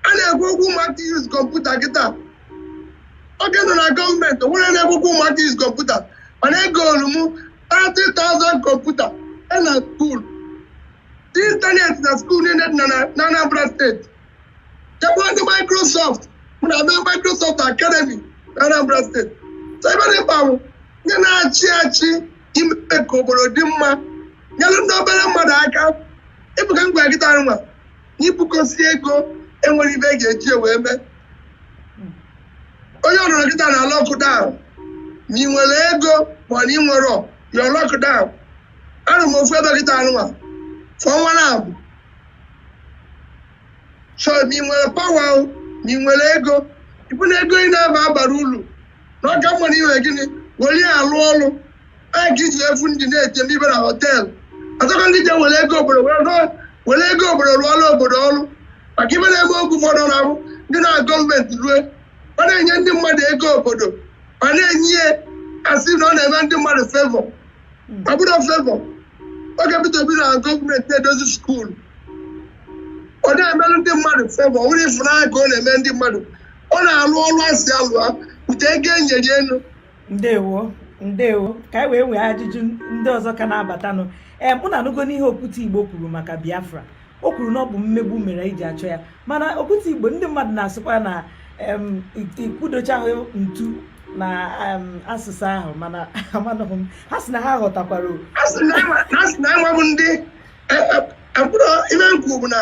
a na-ekwu okwu ụmụaka use kọmputa kịta oge m nọ na gọọmenti onwerọ na-ekwu okwu ụmụaka use kọmputa mana egolu m 30,000 kọmputa e na skuul dị ịntanetị na skuul niile dị na na- na Anambra steeti jekwu ndị Microsoft mụ na ha mee Microsoft Academy na Anambra steeti so ife dị mkpa bụ ndị na-achị achị ime ka obodo dị mma nyere ndị obere mmadụ aka ịfụkwa ngwa kịta nwa na ibukọsị ego enwerọ ife e ga-eji ya wee mee onye ọbụna nọ kịta na lockdown ma ị nwere ego ma ọ na ị nwerọ you're locked down anọ m ofu ebe kịta nwa for ọnwa naabọ so ma ị nwere power ma ị nwere ego ịfụ na ego ị na-aba abarọ ulu na ọ ka mma ị wee gịnị were ya alụ ọrụ ee ka iji efu ndị na-ete m ibe na họteelụ ọtọkọ ndị je were ego obodo were rụọ- were ego obodo rụọla obodo ọrụ maka ife na-eme oge ụfọdụ na ahụ ndị na gọọmenti rue ọ na-enye ndị mmadụ ego obodo ma na-enye ya asị na ọ na-eme ndị mmadụ favour ọ bụrọ favour oge Peter Obi nọ gọọmenti na-edozi skuulu ọ da emelụ ndị mmadụ favour ọ bụrọ ịfụnanya ka ọ na-eme ndị mmadụ ọ na-alụ ọrụ asị ya lụa buta ego enyere ya lụ ndewo ndewo ka anyị wee nwee ajụjụ ndị ọzọ ka na-abatanụ ee unu anụgo n'ihe okwute igbo kwuru maka biafra o kwuru na ọ bụ mmegbu mere anyị ji achọ ya mana okwute igbo ndị mmadụ na-asịkwa na ị kụdochahụ ntu na asịsa ahụ mana amanụghị m ha si na ha ghọtakwara ha si na anyị nwabụ ndị e, e, e, mkpụrụ ime nkwu bụ na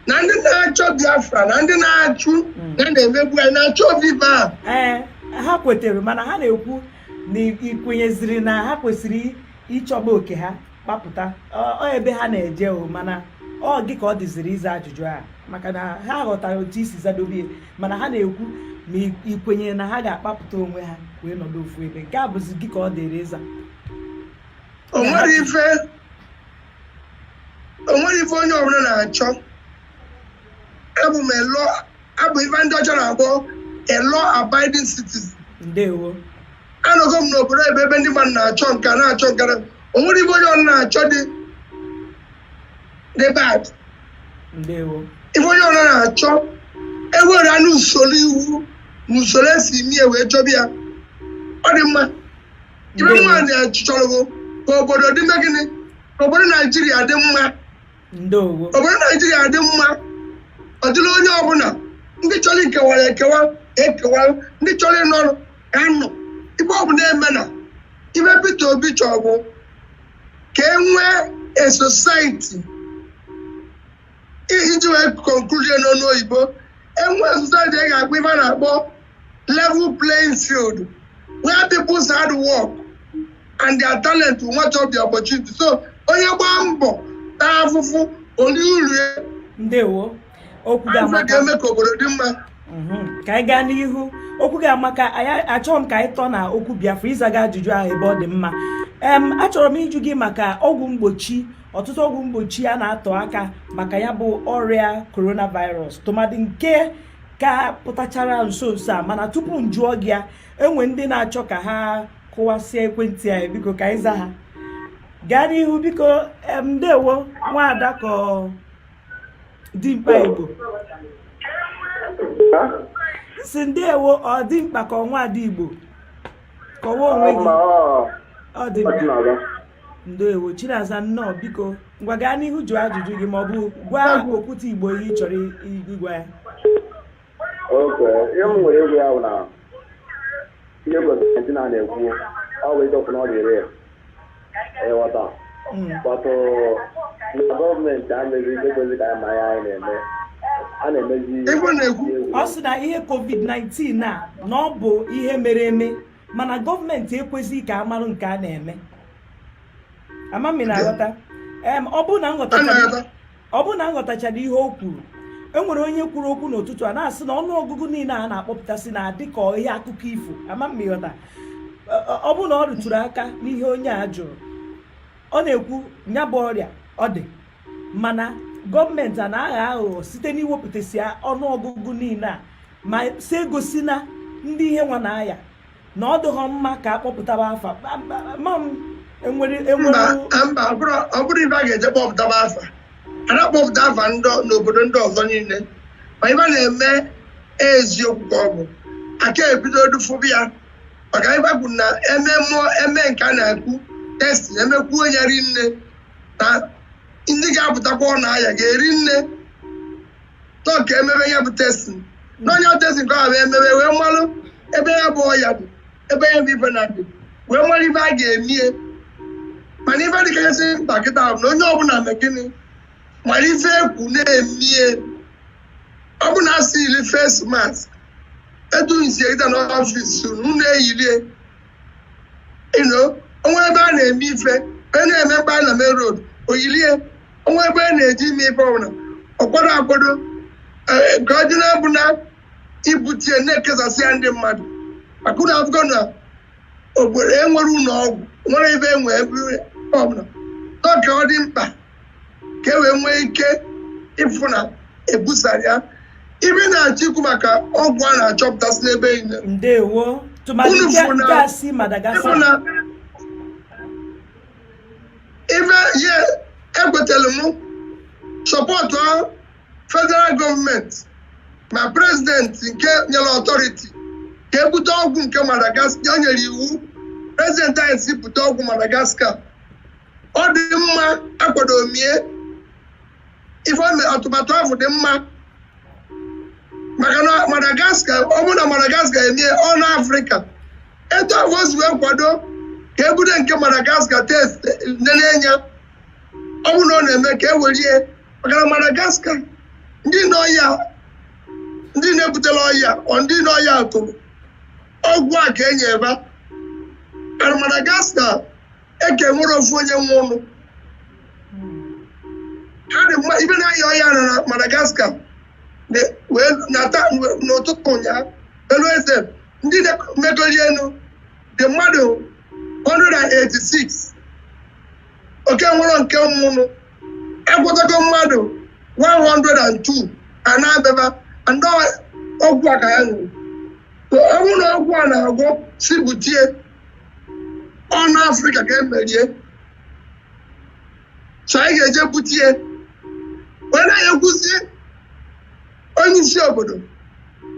na ndị na-achọ biafra na ndị na-achụ hmm. na na-emegbu anyị na-achọ biafra ee ha kwetere mana ha na-ekwu na i kwenyeziri na ha kwesịrị ịchọba oke ha kpapụta ọ ebe ha na-eje o mana ọ gị ka ọ dịziri ịza ajụjụ a maka na ha ghọtara otu i si zadobie mana ha na-ekwu ma i kwenyere na ha ga-akpapụta onwe ha wee nọdụ ofu ebe nke a bụzi gị ka ọ dịrị ịza o nwere ife onye ọbụla na-achọ abụ m a law abụ ife ndị ọcha na-akpọ a law abiding citizen ndewo anọgo m n'obodo ebe ebe ndị mmadụ na-achọ nka na-achọ nka na- o nwere ife onye ọbụna na-achọ dị dị bad ndewo ife onye ọbụna na-achọ e nwere nụ usoro iwu na usoro e si eme ya wee chọba ya ọ dị mma ife m Ndewo. chọrọ bụ ka obodo dị mma gịnị ka obodo naijiria dị mma obodo naijiria dị mma ọ dịrị onye ọbụla ndị chọrọ ikewara ekewa ekewa ndị chọrọ ịnọrụ anọ ife ọbụna e me na ife Peter Obi chọrọ bụ ka e nwee a society iji wee konkluzie n'ọnụ oyibo e nwee society a ga-akpọ ife a na-akpọ level playing field where people's hard work and their talent will match up their opportunity so onye gbaa mbọ taa afụfụ o rie uru ya ndewo okwu ga afọ amaka ga-eme ka obodo dị mma Mhm. ka anyị gaa n'ihu okwu gị amaka anyị- achọrọ m ka anyị tọọ na okwu biafra ị zago ajụjụ ahụ ebe ọ dị mma em achọrọ m ịjụ gị maka ọgwụ mgbochi ọtụtụ ọgwụ mgbochi a na-atụ aka maka ya bụ ọrịa coronavirus tụmadị nke ka pụtachara nso nso a mana tupu m jụọ gị ya e nwere ndị na-achọ ka ha kụwasịa ekwentị anyị biko ka anyị zaa ha gaa n'ihu biko ndewo nwaada ka dimkpa igbo si ndewo ọ dimkpa ka ọ nwaada igbo kọwaa onwe gị ọ dimkpa ndewo chinaza nnọọ biko ngwa gaa n'ihu jụọ ajụjụ gị ma ọ bụ gwa okwute igbo ihe ị chọrọ ịgwa ya okay ihe m nwere ịgwa ya bụ na ihe gọọmenti na na-ekwu ọ bụ ịdọkwu na ọ dịrị ya ịghọta hmm. kpọtụ na gọọmenti emeghị ihe kwesi ka ma ya anyị na-eme a na-emezi ọ sị na ihe covid-19 a na ọ bụ ihe mere eme mana gọọmenti ekwezighị ka a marụ nke a na-eme ama m ị na-aghọta ọ bụrụ na m ghọtachara ihe o kwuru enwere onye kwuru okwu n'ụtụtụ a na-asị na ọnụ ọgụgụ niile a na-akpọpụtasị na-adị ka ihe akụkọ ifo ama m ị ghọta ọ bụrụ na ọ rụtụrụ aka n'ihe onye a jụrụ ọ na-ekwu nya bụ ọrịa ọ dị mana gọọmenti a na-aghọ aghụghọ site n'iwepụtasị ọnụọgụgụ niile a ma si egosi na ndị ihe nwa na-aya na ọ dịghọ mma ka akpọpụtaba afa ma m enwere enwere mba ọ bụrọ ife a ga-eji kpọpụtaba afa a da-akpọpụta afa n'obodo ndị ọzọ niile ma ife a na-eme eziokwu ka ọ bụ aka ebido dufụbụ ya maka ife e kwuru na eme mmụọ eme nke a na-ekwu testi emekwuo nya rie nne na ndị ga-apụtakwa ọ na-aya ga-eri nne so ka emebe ya bụ testin na onye testin ka ọ bụ emebe wee malụ ebe ya bụ ọya dị ebe ya bụ ife na-adị wee mara ife a ga-emie mana ife dịkasị mkpa kịta bụ na onye ọbụla mee gịnị mara ife ekwu na-emie ọ bụ na a sị yiri face mask etu unu si kịta n'ọfis unu na-eyilie o nwee ebe a na-eme ife a na-eme mgbe a na main road o yilie o nwee ebe a na-eji ime ife ọbụla ọkwado akwado e, ka ọ dị na-abụ na ibute na-ekesasị ya ndị mmadụ maka ụlọ akwụkwọ na obodo enwere ụlọ ọgwụ nwere ebe enwe ebe ọbụla ọ ka ọ dị mkpa ka e wee nwee ike ịfụ na ebusara ya ife m na-achọ ikwu maka ọgwụ a na-achọpụtasị n'ebe niile ndewo tụmadị Unu nke fụ na- nke a si ịfụ madagascar na ife ye ekwetara m support federal gọọmenti ma prezidenti nke nyere authority ka ebute ọgwụ nke madagascar o nyere iwu prezidenti anyị sị bute ọgwụ madagascar ọ dị mma akwado mie ife ọ na- atụmatụ ahụ dị mma maka na madagascar ọ bụrụ na madagascar emie ọ na afrịka etu ahụ o si wee kwado ka ebute nke madagascar test nene nya ọ bụrụ na ọ na-eme ka e werie maka na madagascar ndị nọ ya ndị na-ebutela ọya ọ ndị nọ ya tụrụ ọgwụ a ka enye ebe a na madagascar aka enwerọ ofu onye nwụnụ ha dị mma ibe na-aya ọya na na Madagascar na- wee nata wee- n'ụtụtụ ụnyaahụ elu eze ndị na-emegoli elu dị mmadụ 186 ọ ka enwerọ nke nwụnụ agwọtago mmadụ 102 a na-abịaba ndị ọgwụ a ka ya ṅụrụ So, ọ bụrụ na ọgwụ a na-agwọ sị bute ya ọ n'Afrịka ka e mere ya so anyị ga-eje bute ya wee na-ayọkwuzi onye isi obodo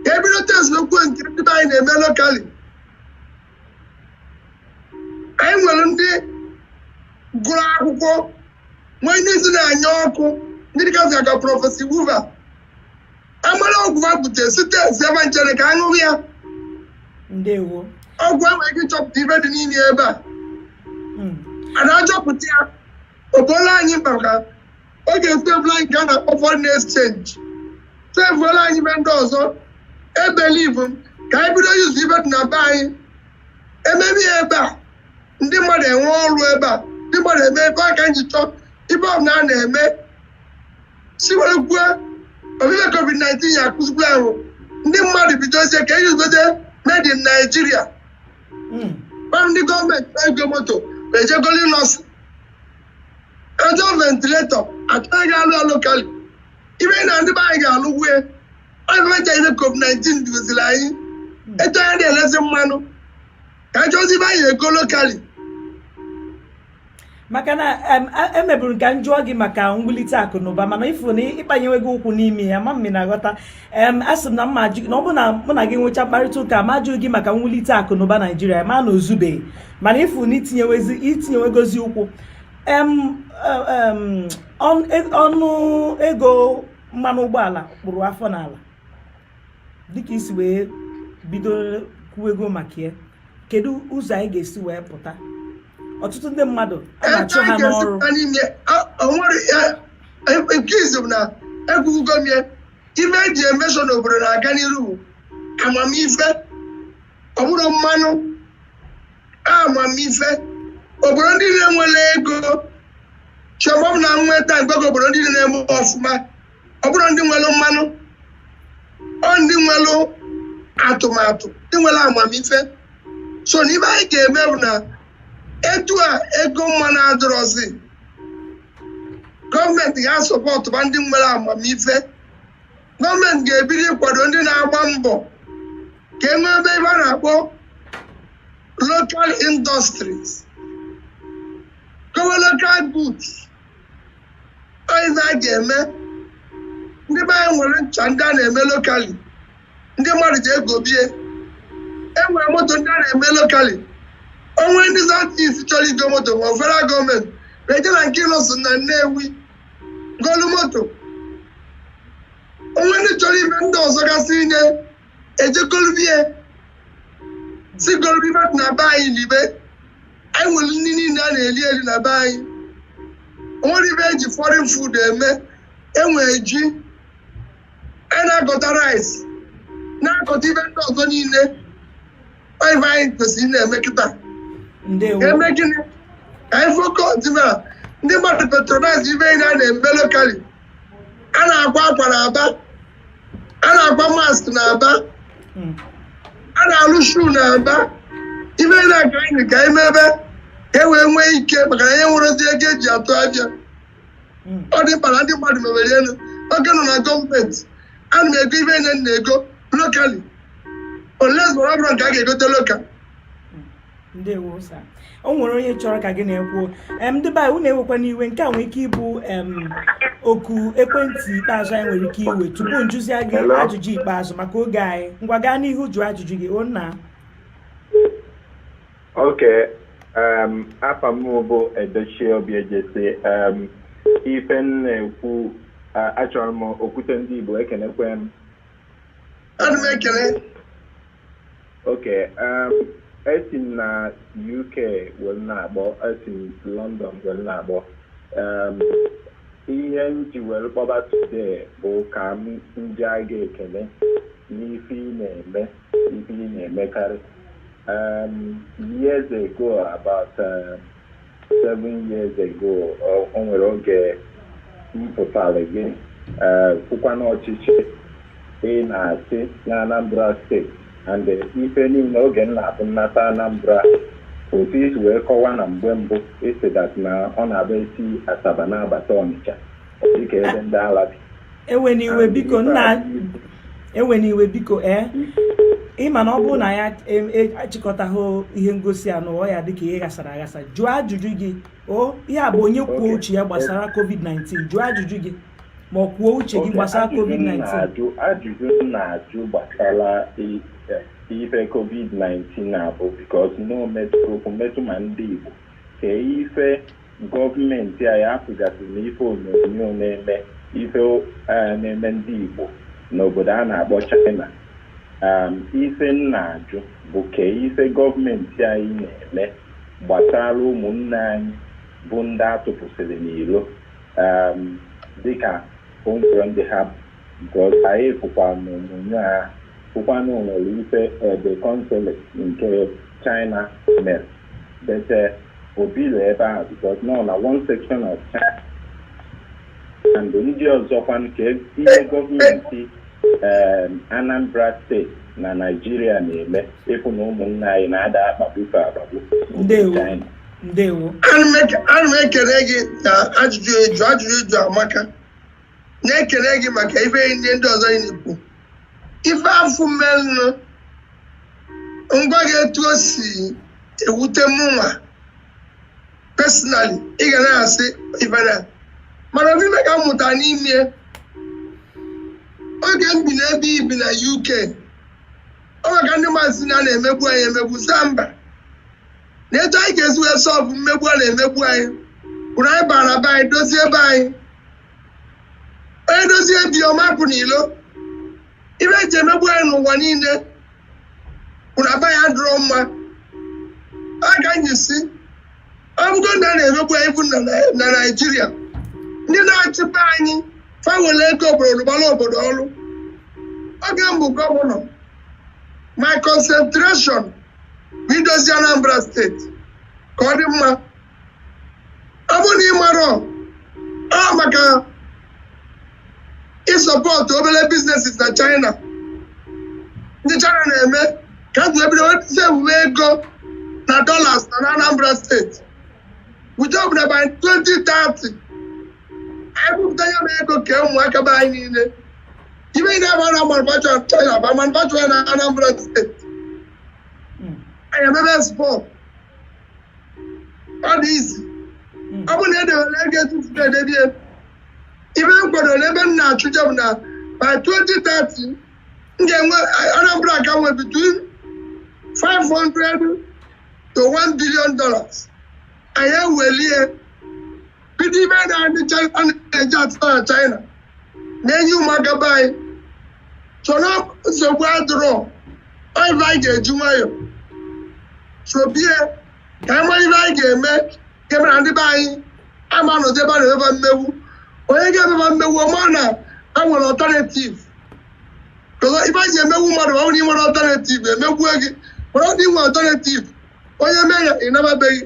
ka e bido testkwue nke ndị be anyị na-eme locally anyị nwere ndị gụrụ akwụkwọ nwee ndị isi na-anya ọkụ ndị dịgasị ka Professor Iwu va amara ọgwụ a bute sị testie ebe nchere ka aṅụrụ ya ndewo ọgwụ enwee ike ịchọpụta ibe dị n'ime ebe a Mm. a na-achọpụta ya obola anyị maka ọ ga-esevụla anyị ka a na-akpọ foreign exchange sevuola anyị ibe ndị ọzọ e believe m ka anyị bido use ibe dị na be anyị emee ya ebe a ndị mmadụ enwe ọrụ ebe a ndị mmadụ eme ebe a ka anyị ji chọọ ibe ọbụla a na-eme si were kwuo ọ bụ ibe covid-19 ya-akụzikwa anyị ndị mmadụ bidozie ka eji gote made in Nigeria hmm. gwa ndị gọọmenti na-ego moto eje goli Innoson achọ ventilator achọghị gị alụ locally ibe na ndị be anyị ga-alụ wue ọgụmecha ihe covid-19 kuziri anyị hmm. etu a na-elezi mmanụ ka achọzi be anyị ego locally maka na emeburu m ka m jụọ gị maka mwulite akụ na ụba mana ịfụ na ị kpanyewego ụkwụ n'ime ya ma mmiri na-aghọta asị m na mma ajụ na ọ bụrụ na mụ na gị nwechaa mkparịta ụka ma ajụghị gị maka mwulite akụ na ụba Naịjirịa mara na o zubeghị mana ịfụ na i tinyewegozi ụkwụ e, e, ọnụ ego mmanụ ụgbọala kpụrụ afọ n'ala dịka i si wee bido kwuo ego maka ya kedu ụzọ anyị ga-esi wee pụta ọtụtụ ndị mmadụ a na-achụ ha n'ọrụ nke izizi na ekwugo m ya ife eji eme sure na obodo na-aga n'iru bụ amamife ọ bụrọ mmanụ amamife obodo ndị na-enwere ego chọbọm na nweta mgbe obodo ndị na-eme ọfụma ọ bụrọ ndị nwere mmanụ ọ ndị nwere atụmatụ ndị nwere amamife so n'ife anyị ga-eme bụ na etu a ego mmanụ adịrọzi gọọmenti ga-asọpọtụba ndị nwere amamife gọọmenti ga-ebido ịkwado ndị na-agba mbọ ka e mebe ife a na-akpọ local industries gowe local goods ife a ga-eme ndị be anyị nwere ncha ndị a na-eme lokali ndị mmadụ jee gobe ya e nwere moto ndị a na-eme lokali o nwee ndị that is chọrọ igo moto ma federal gọọmenti na-eje na nke Innoson na Nnewi golu moto o nwee ndị chọrọ ife ndị ọzọ gasị inye eje golube ya si golube ya na be anyị libe anyị nwere nri niile a na-eri eri na be anyị o nwerọ ife eji foreign food eme enwere ji a na-akọta rice na-akọta ife ndị ọzọ niile ọ ife anyị kwesịrị na-eme kịta ndewo ga-eme gịnị ka anyị focus na ndị mmadụ patronize ife anyị na-eme lokali a na-akwa akwa na Aba a na-akwa mask na Aba hmm. a na-alụ shoe na Aba ife niile ka anyị ga-emebe ka e wee nwee ike maka na e nwerọzi ego eji atụ ahịa hmm. ọ dị mkpa na ndị mmadụ mebe ife m mere oge m nọ na gọọmenti ana m ego ife niile m na-ego lokali unless ọ bụrọ nke a ga-egote lokal ndewo sa o nwere onye chọrọ ka gị na ya kwuo em ndị be anyị unu ewekwana iwe nke a nwere ike ịbụ em oku ekwentị ikpeazụ anyị nwere ike iwe tupu m jụzie gị Hello? ajụjụ ikpeazụ maka oge anyị ngwa gaa n'ihu jụọ ajụjụ gị o nna okay um, afa m bụ Edochie Obiejesi um, ife m na-ekwu uh, achọrọ m Okwute ndị Igbo ekenekwe m Ana m ekele Okay, um, esi m na UK wee na-akpọ esi m London wee na-akpọ um, ihe m ji wee kpọba today bụ ka m nye gị ekele n'ife ị na-eme ife ị na-emekarị um, years ago about um, seven years ago o o nwere oge m kpọtara gị eh, kwukwa n'ọchịchị ị na-achị na Anambra steeti and eh, ife niile oge m na-abụ m nata Anambra otu i si wee kọwa na mgbe mbụ is that na ọ na-abụ esi Asaba na-abata Ọnịcha dịka ebe ndị ala bi ewena iwe biko nna ewena iwe biko ee eh? ịma na ọ bụrụ na ya achịkọtaghị e, ihe ngosi a ọnụ ọ ya-adị ka ihe ghasara aghasa jụọ ajụjụ gị o ihe a bụ onye kwuo uche ya gbasara covid-19 jụọ ajụjụ gị ma ọ kwuo uche gị gbasara covid-19 ajụjụ m na-ajụ gbasara ife covid-19 na-abụ because na ometụrụ okwu metụ ma ndị Igbo kee ife Gọọmenti anyị afụgasịrị na ife onyonyo na-eme ife eh, na-eme ndị Igbo n'obodo a na-akpọ China Um, ife m na-ajụ bụ kee ife gọọmenti anyị na-eme gbasara ụmụnna anyị bụ ndị atụpụsịrị n'ilo um, dịka o nwerọ ndị ha bụ nke ọzọ anyị fụkwa n'onyonyo a fụkwa na o nwere ife the consul nke China mere But uh, o bili ebe ahụ because nọ na one section of China and ndị ọzọkwanụ kee ihe gọọmenti um, Anambra steeti na Naịjirịa na-eme ịfụ na ụmụnna anyị na a da-akpagbu fa akpagbu Ndewo. China. ndewo ana m eke- ana m ekele gị na ajụjụ ị jụ ajụjụ ị jụ amaka na-ekele gị maka ife ndị ndị ọzọ ị na-ekwu ife afụ menụ ngwa gị etu o si ewute mụnwa personally ị ga na-asị ife na mana ife ka m mụtara n'ime ya, oge m bi n'ebe i bi na UK ọ maka ndị maazị na a na-emegbu anyị emegbu saa mba na etu anyị ga-esi wee sọlvụ mmegbu a na-emegbu anyị bụrụ anyị bara be anyị dozie be anyị onye dozie be ya ọ ma pụ n'ilo ife e ji emegbu anyị n'ụwa niile bụ na be anyị adịrọ mma aga anyị si ọ bụgo na a na-emegbu anyị bụ na Nai- na naijiria ndị na-achịkwa anyị fa nwere ego obodo rụbara obodo ọrụ oge m bụ gọvanọ my concentration bụ idozi anambra steeti ka ọ dị mma ọ bụrụ na ị marọ ọ maka ịsọpọtụ obere biznesis na China ndị China na-eme ka m ji bido sevuwe ego na dollars na Anambra steeti with hope na by 2030 anyị ebupụta ya bụ ego kee ụmụaka be anyị niile ife ndị afụ a na-manufacture na China bịa manufacture na Anambra steeti anyị emebe export ọ dị easy hmm. ọ bụ na e dewere ego etu m si na-edebe ego ife m kwadoro ebe m na-achọ ije bụ na by 2030 m ga-enwe Anambra ga-enwe between 500 to 1 billion dollars anyị ewelie kedu ife na ndị China na-eji atụta na China na-enye ụmụaka be anyị soro nsogbu adịrọ ọ ife anyị ga-eji nwayọ sobe ya ka anyị mara ife anyị ga-eme nke mere na ndị be anyị ama nọdebe na emeba mmegbu onye ga-emeba mmegbu ọ ma na e nwere alternative ọzọ ife anyị ji emegbu mmadụ ma ọ bụrụ na ị nwerọ alternative emegbue gị mana ọ dị nwee alternative onye mee ya ị naba be gị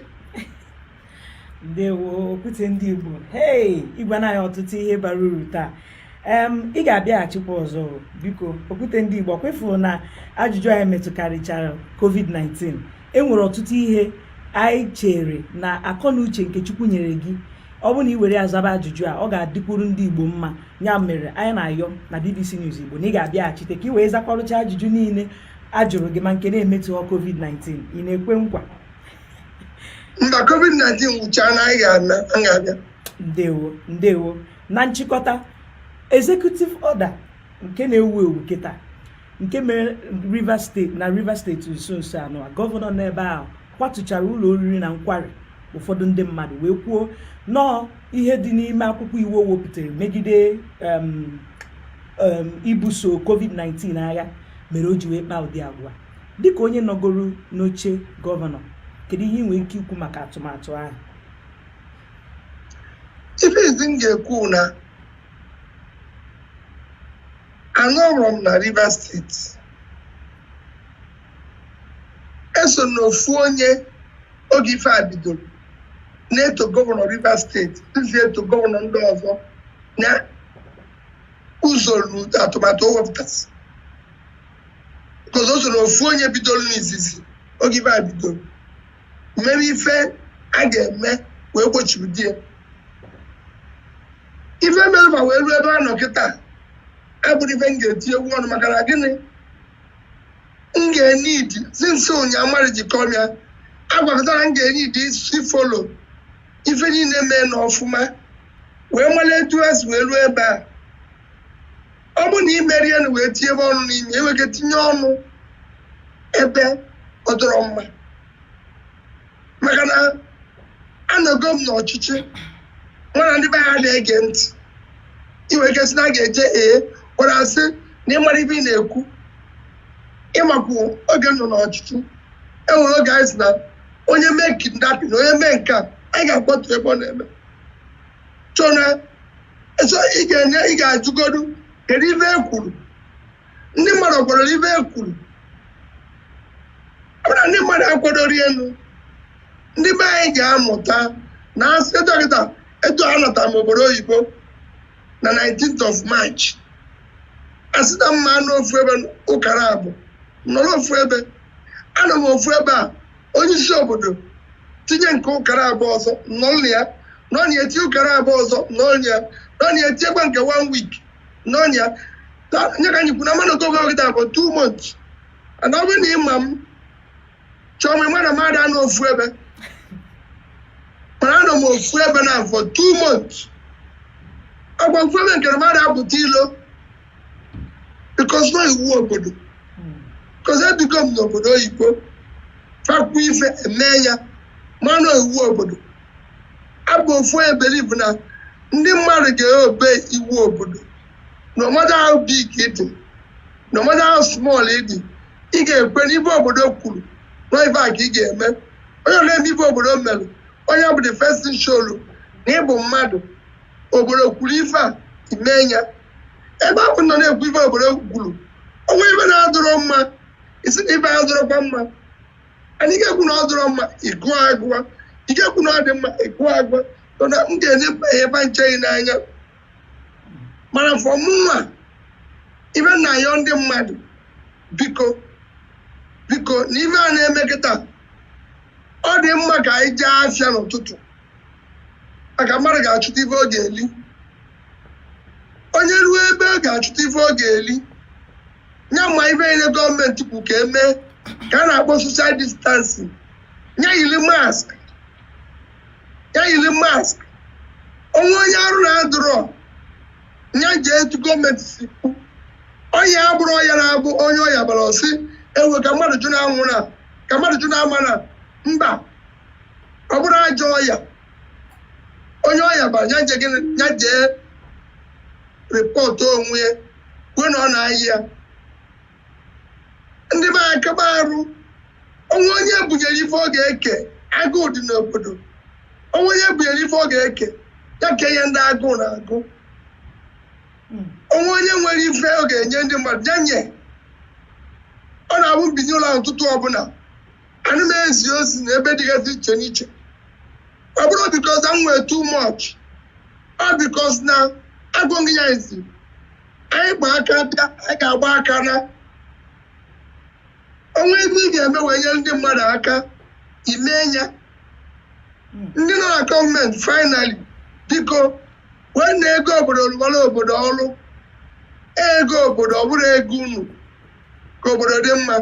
ndewo okwute ndị igbo hei ị gwana anyị ọtụtụ ihe bara uru taa em ị ga-abịaghachikwa ọzọ biko okwute ndị igbo kwa ị fụrụ na ajụjụ anyị metụkarịchara covid-19 e nwere ọtụtụ ihe anyị chere na akọ na uche nke chukwu nyere gị ọ bụrụ na ị were azaba ajụjụ a ọ ga-adịkwuru ndị igbo mma ya mere anyị na-ayọ na bbc news igbo na ị ga-abịaghachite ka ị wee zakwarụcha ajụjụ niile a jụrụ gị ma nke na-emetụghị covid-19 ị na-ekwe nkwa mba covid-19 gwụchaa na anyị ga-ana a ga-abịa ndewo ndewo na nchịkọta executive order nke na-ewu ewu kịta nke mere na Rivers steeti nso nso anọ a gọvanọ n'ebe ahụ kwatuchara ụlọ oriri na nkwari ụfọdụ ndị mmadụ wee kwuo na ọ ihe dị n'ime akwụkwọ iwu o wepụtara megide em, em, ibuso covid-19 agha mere o ji wee kpaa ụdị agwa Dịka onye nọgoro n'oche gọvanọ, kedu ihe ị nwere ike ikwu maka atụmatụ ahụ? Ife izizi m ga-ekwu bụ na anọrọ m na Rivers steeti eso m n'ofu onye oge ife a bidoro na-eto gọvanọ Rivers steeti nzi eto gọvanọ ndị ọzọ na usoro atụmatụ o wepụtasị because o soro ofu onye bidoro n'izizi oge ife a bidoro mere ife a ga-eme wee gbochibido ya ife mere ma wee ruo ebe a nọ kịta abụrọ ife m ga-etinyekwu ọnụ maka na gịnị m ga-eneed isi nso ụnyaa mmadụ ji kọọ m ya agwakọtara m ga-eneed isi follow ife niile mee na ọfụma wee mara etu ha si wee ruo ebe a ọ bụ na imeri elu wee tinyebe ọnụ n'ime ị nwere ike itinye ọnụ ebe ọ dịrọ mma maka na anọgo m n'ọchịchị nwara ndị be ha na-ege ntị ị nwere ike sị na a ga-eje ee gwara asị na ị marọ ife ị na-ekwu ị makwa oge m nọ n'ọchịchị enwere oge anyị sị na onye mee kidnapping onye mee nke a anyị ga-akwatu ebe ọ na-ebi so na so ị ga-enye ị ga-ajụgodu kedu ife e kwuru ndị mmadụ kwere ife e kwuru ọ bụrụ na ndị mmadụ akwadori elu ndị be anyị ga-amụta na as a doctor etu a anata m obodo oyibo na 19th of March a sị na m ma-anọ ofu ebe ụkara abụọ nọrọ ofu ebe anọ m ofu ebe a onye isi obodo tinye nke ụkara abụọ ọzọ n'ọnụ ya n'ọnụ ya tinye ụkara abụọ ọzọ n'ọnụ ya n'ọnụ ya tinyekwa nke one week n'ọnụ ya Ta- nye ka anyị kwuru na altogether ọ bụ two months and ọ bụrụ na ịma m chọọ m ịma na m ada anọ ofu ebe mana anọ m ofu ebe na for two months agwa ofu ebe nke na m ada apụta ilo because na iwu obodo because ebigo m n'obodo oyibo fa kwuo ife e mee ya mana iwu obodo abụ m ofu onye believe na ndị mmadụ ga-obey iwu obodo no matter how big ị dị no matter how small ị dị ị ga-ekwere ife obodo kwuru na ife a ka ị ga-eme onye na-eme ife obodo mere onye bụ the first thing show na ị bụ mmadụ obodo kwuru ife a mee ya ebe ahụ nọ na-ekwu ife obodo kwuru o nwe ife na-adịrọ mma ị sị na ife a adịrọkwa mma anyị ga-ekwu na ọ dịrọ mma ịgụọ agụwa ị ga-ekwu na ọ dị mma ịgụọ agụwa mana m ga-enye ebe ncheghị n'anya mana for mụnwa ife m na-ayọ ndị mmadụ biko biko na ife a na-eme kịta ọ dị mma ka anyị jee afịa n'ụtụtụ maka mmadụ ga-achụta ife ọ ga-eli onye ruo ebe ọ ga-achụta ife ọ ga-eli ya mee ife niile gọọmenti kwu ka e mee ka a na-akpọ social distancing nye yiri mask ya yiri mask o nwe onye arụ na-adịrọ ya jee etu gọọmenti si kwu ọya a abụrọ ọya na-abụ onye ọya bara ọ sị ewe ka mmadụ jụ na-anwụ na ka mmadụ jụ na-ama na mba ọ bụrọ ajọ ọya onye ọya bara ya je gịnị ya jee report onwe ya kwuo na ọ na-ayị ya ndị be akaba arụ o nwe onye e bunyere ife ọ ga-eke agụụ dị n'obodo o nwe onye e bunyere ife ọ ga-eke ya kenye ndị agụụ na-agụ Mm. o nwe onye nwere ife ọ ga-enye ndị mmadụ ya nye ọ na-abụ m binie ụla ụtụtụ ọbụla ana m ezi ozi na ebe dịgasị iche n'iche ọ bụrọ because m nwee too much ọ because na agụghị ya izi anyị gba aka bịa anyị ga-agba aka naa o nwee ebe ị ga-eme wee nyere ndị mmadụ aka i mee ya ndị nọ na gọọmenti finally biko weenụ ego obodo rụbara obodo ọrụ ego obodo ọ bụrọ ego unu ka obodo dị mma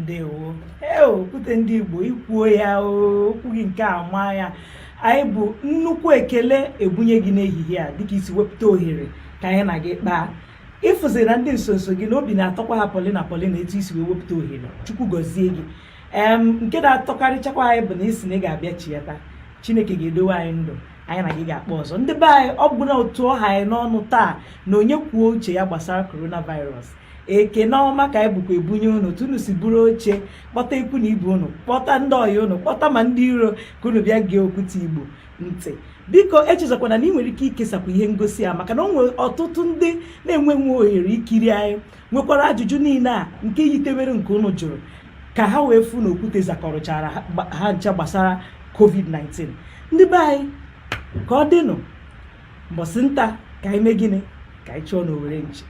ndewo ee okwute ndị igbo ikwuo ya okwu gị nke a maa ya anyị bu nnukwu ekele ebunye gị n'ehihie a dịka i si wepụta ohere ka anyị na gị kpaa ị fụziri na ndị nsonso gị na obi na-atọkwa ha polina polina etu i si wee wepụta ohere chukwu gọzie gị nke na-atọkarịchakwa anyị bụ na ị sị na ị ga-abịa chiyata chineke ga-edowe anyị ndụ anyị na gị ga-akpa ọzọ ndị be anyị ọ bụla otu ọ ha anyị n'ọnụ taa na onye kwuo uche ya gbasara coronavirus ekene ọma ka anyị bukwa ebunye unu otu unu si buru oche kpọta ikwu na ibe unu kpọta ndị ọyị unu kpọta ma ndị iro ka unu bịa gee okwute igbo ntị biko echezọkwana na ị nwere ike ikesakwa ihe ngosi a maka na o nwere ọtụtụ ndị na-enwe nwe ohere ikiri anyị nwekwara ajụjụ niile a nke yitewere nke unu jụrụ ka ha wee fụ na okwute zakọrọchara ha ncha gbasara covid-19 ndị be anyị ka ọ dịnụ mbọsị nta ka anyị mee gịnị ka anyị chụọ n'owere nchi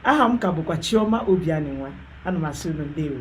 aha m ka bụkwa chioma obianinwa ana m asị unu ndewo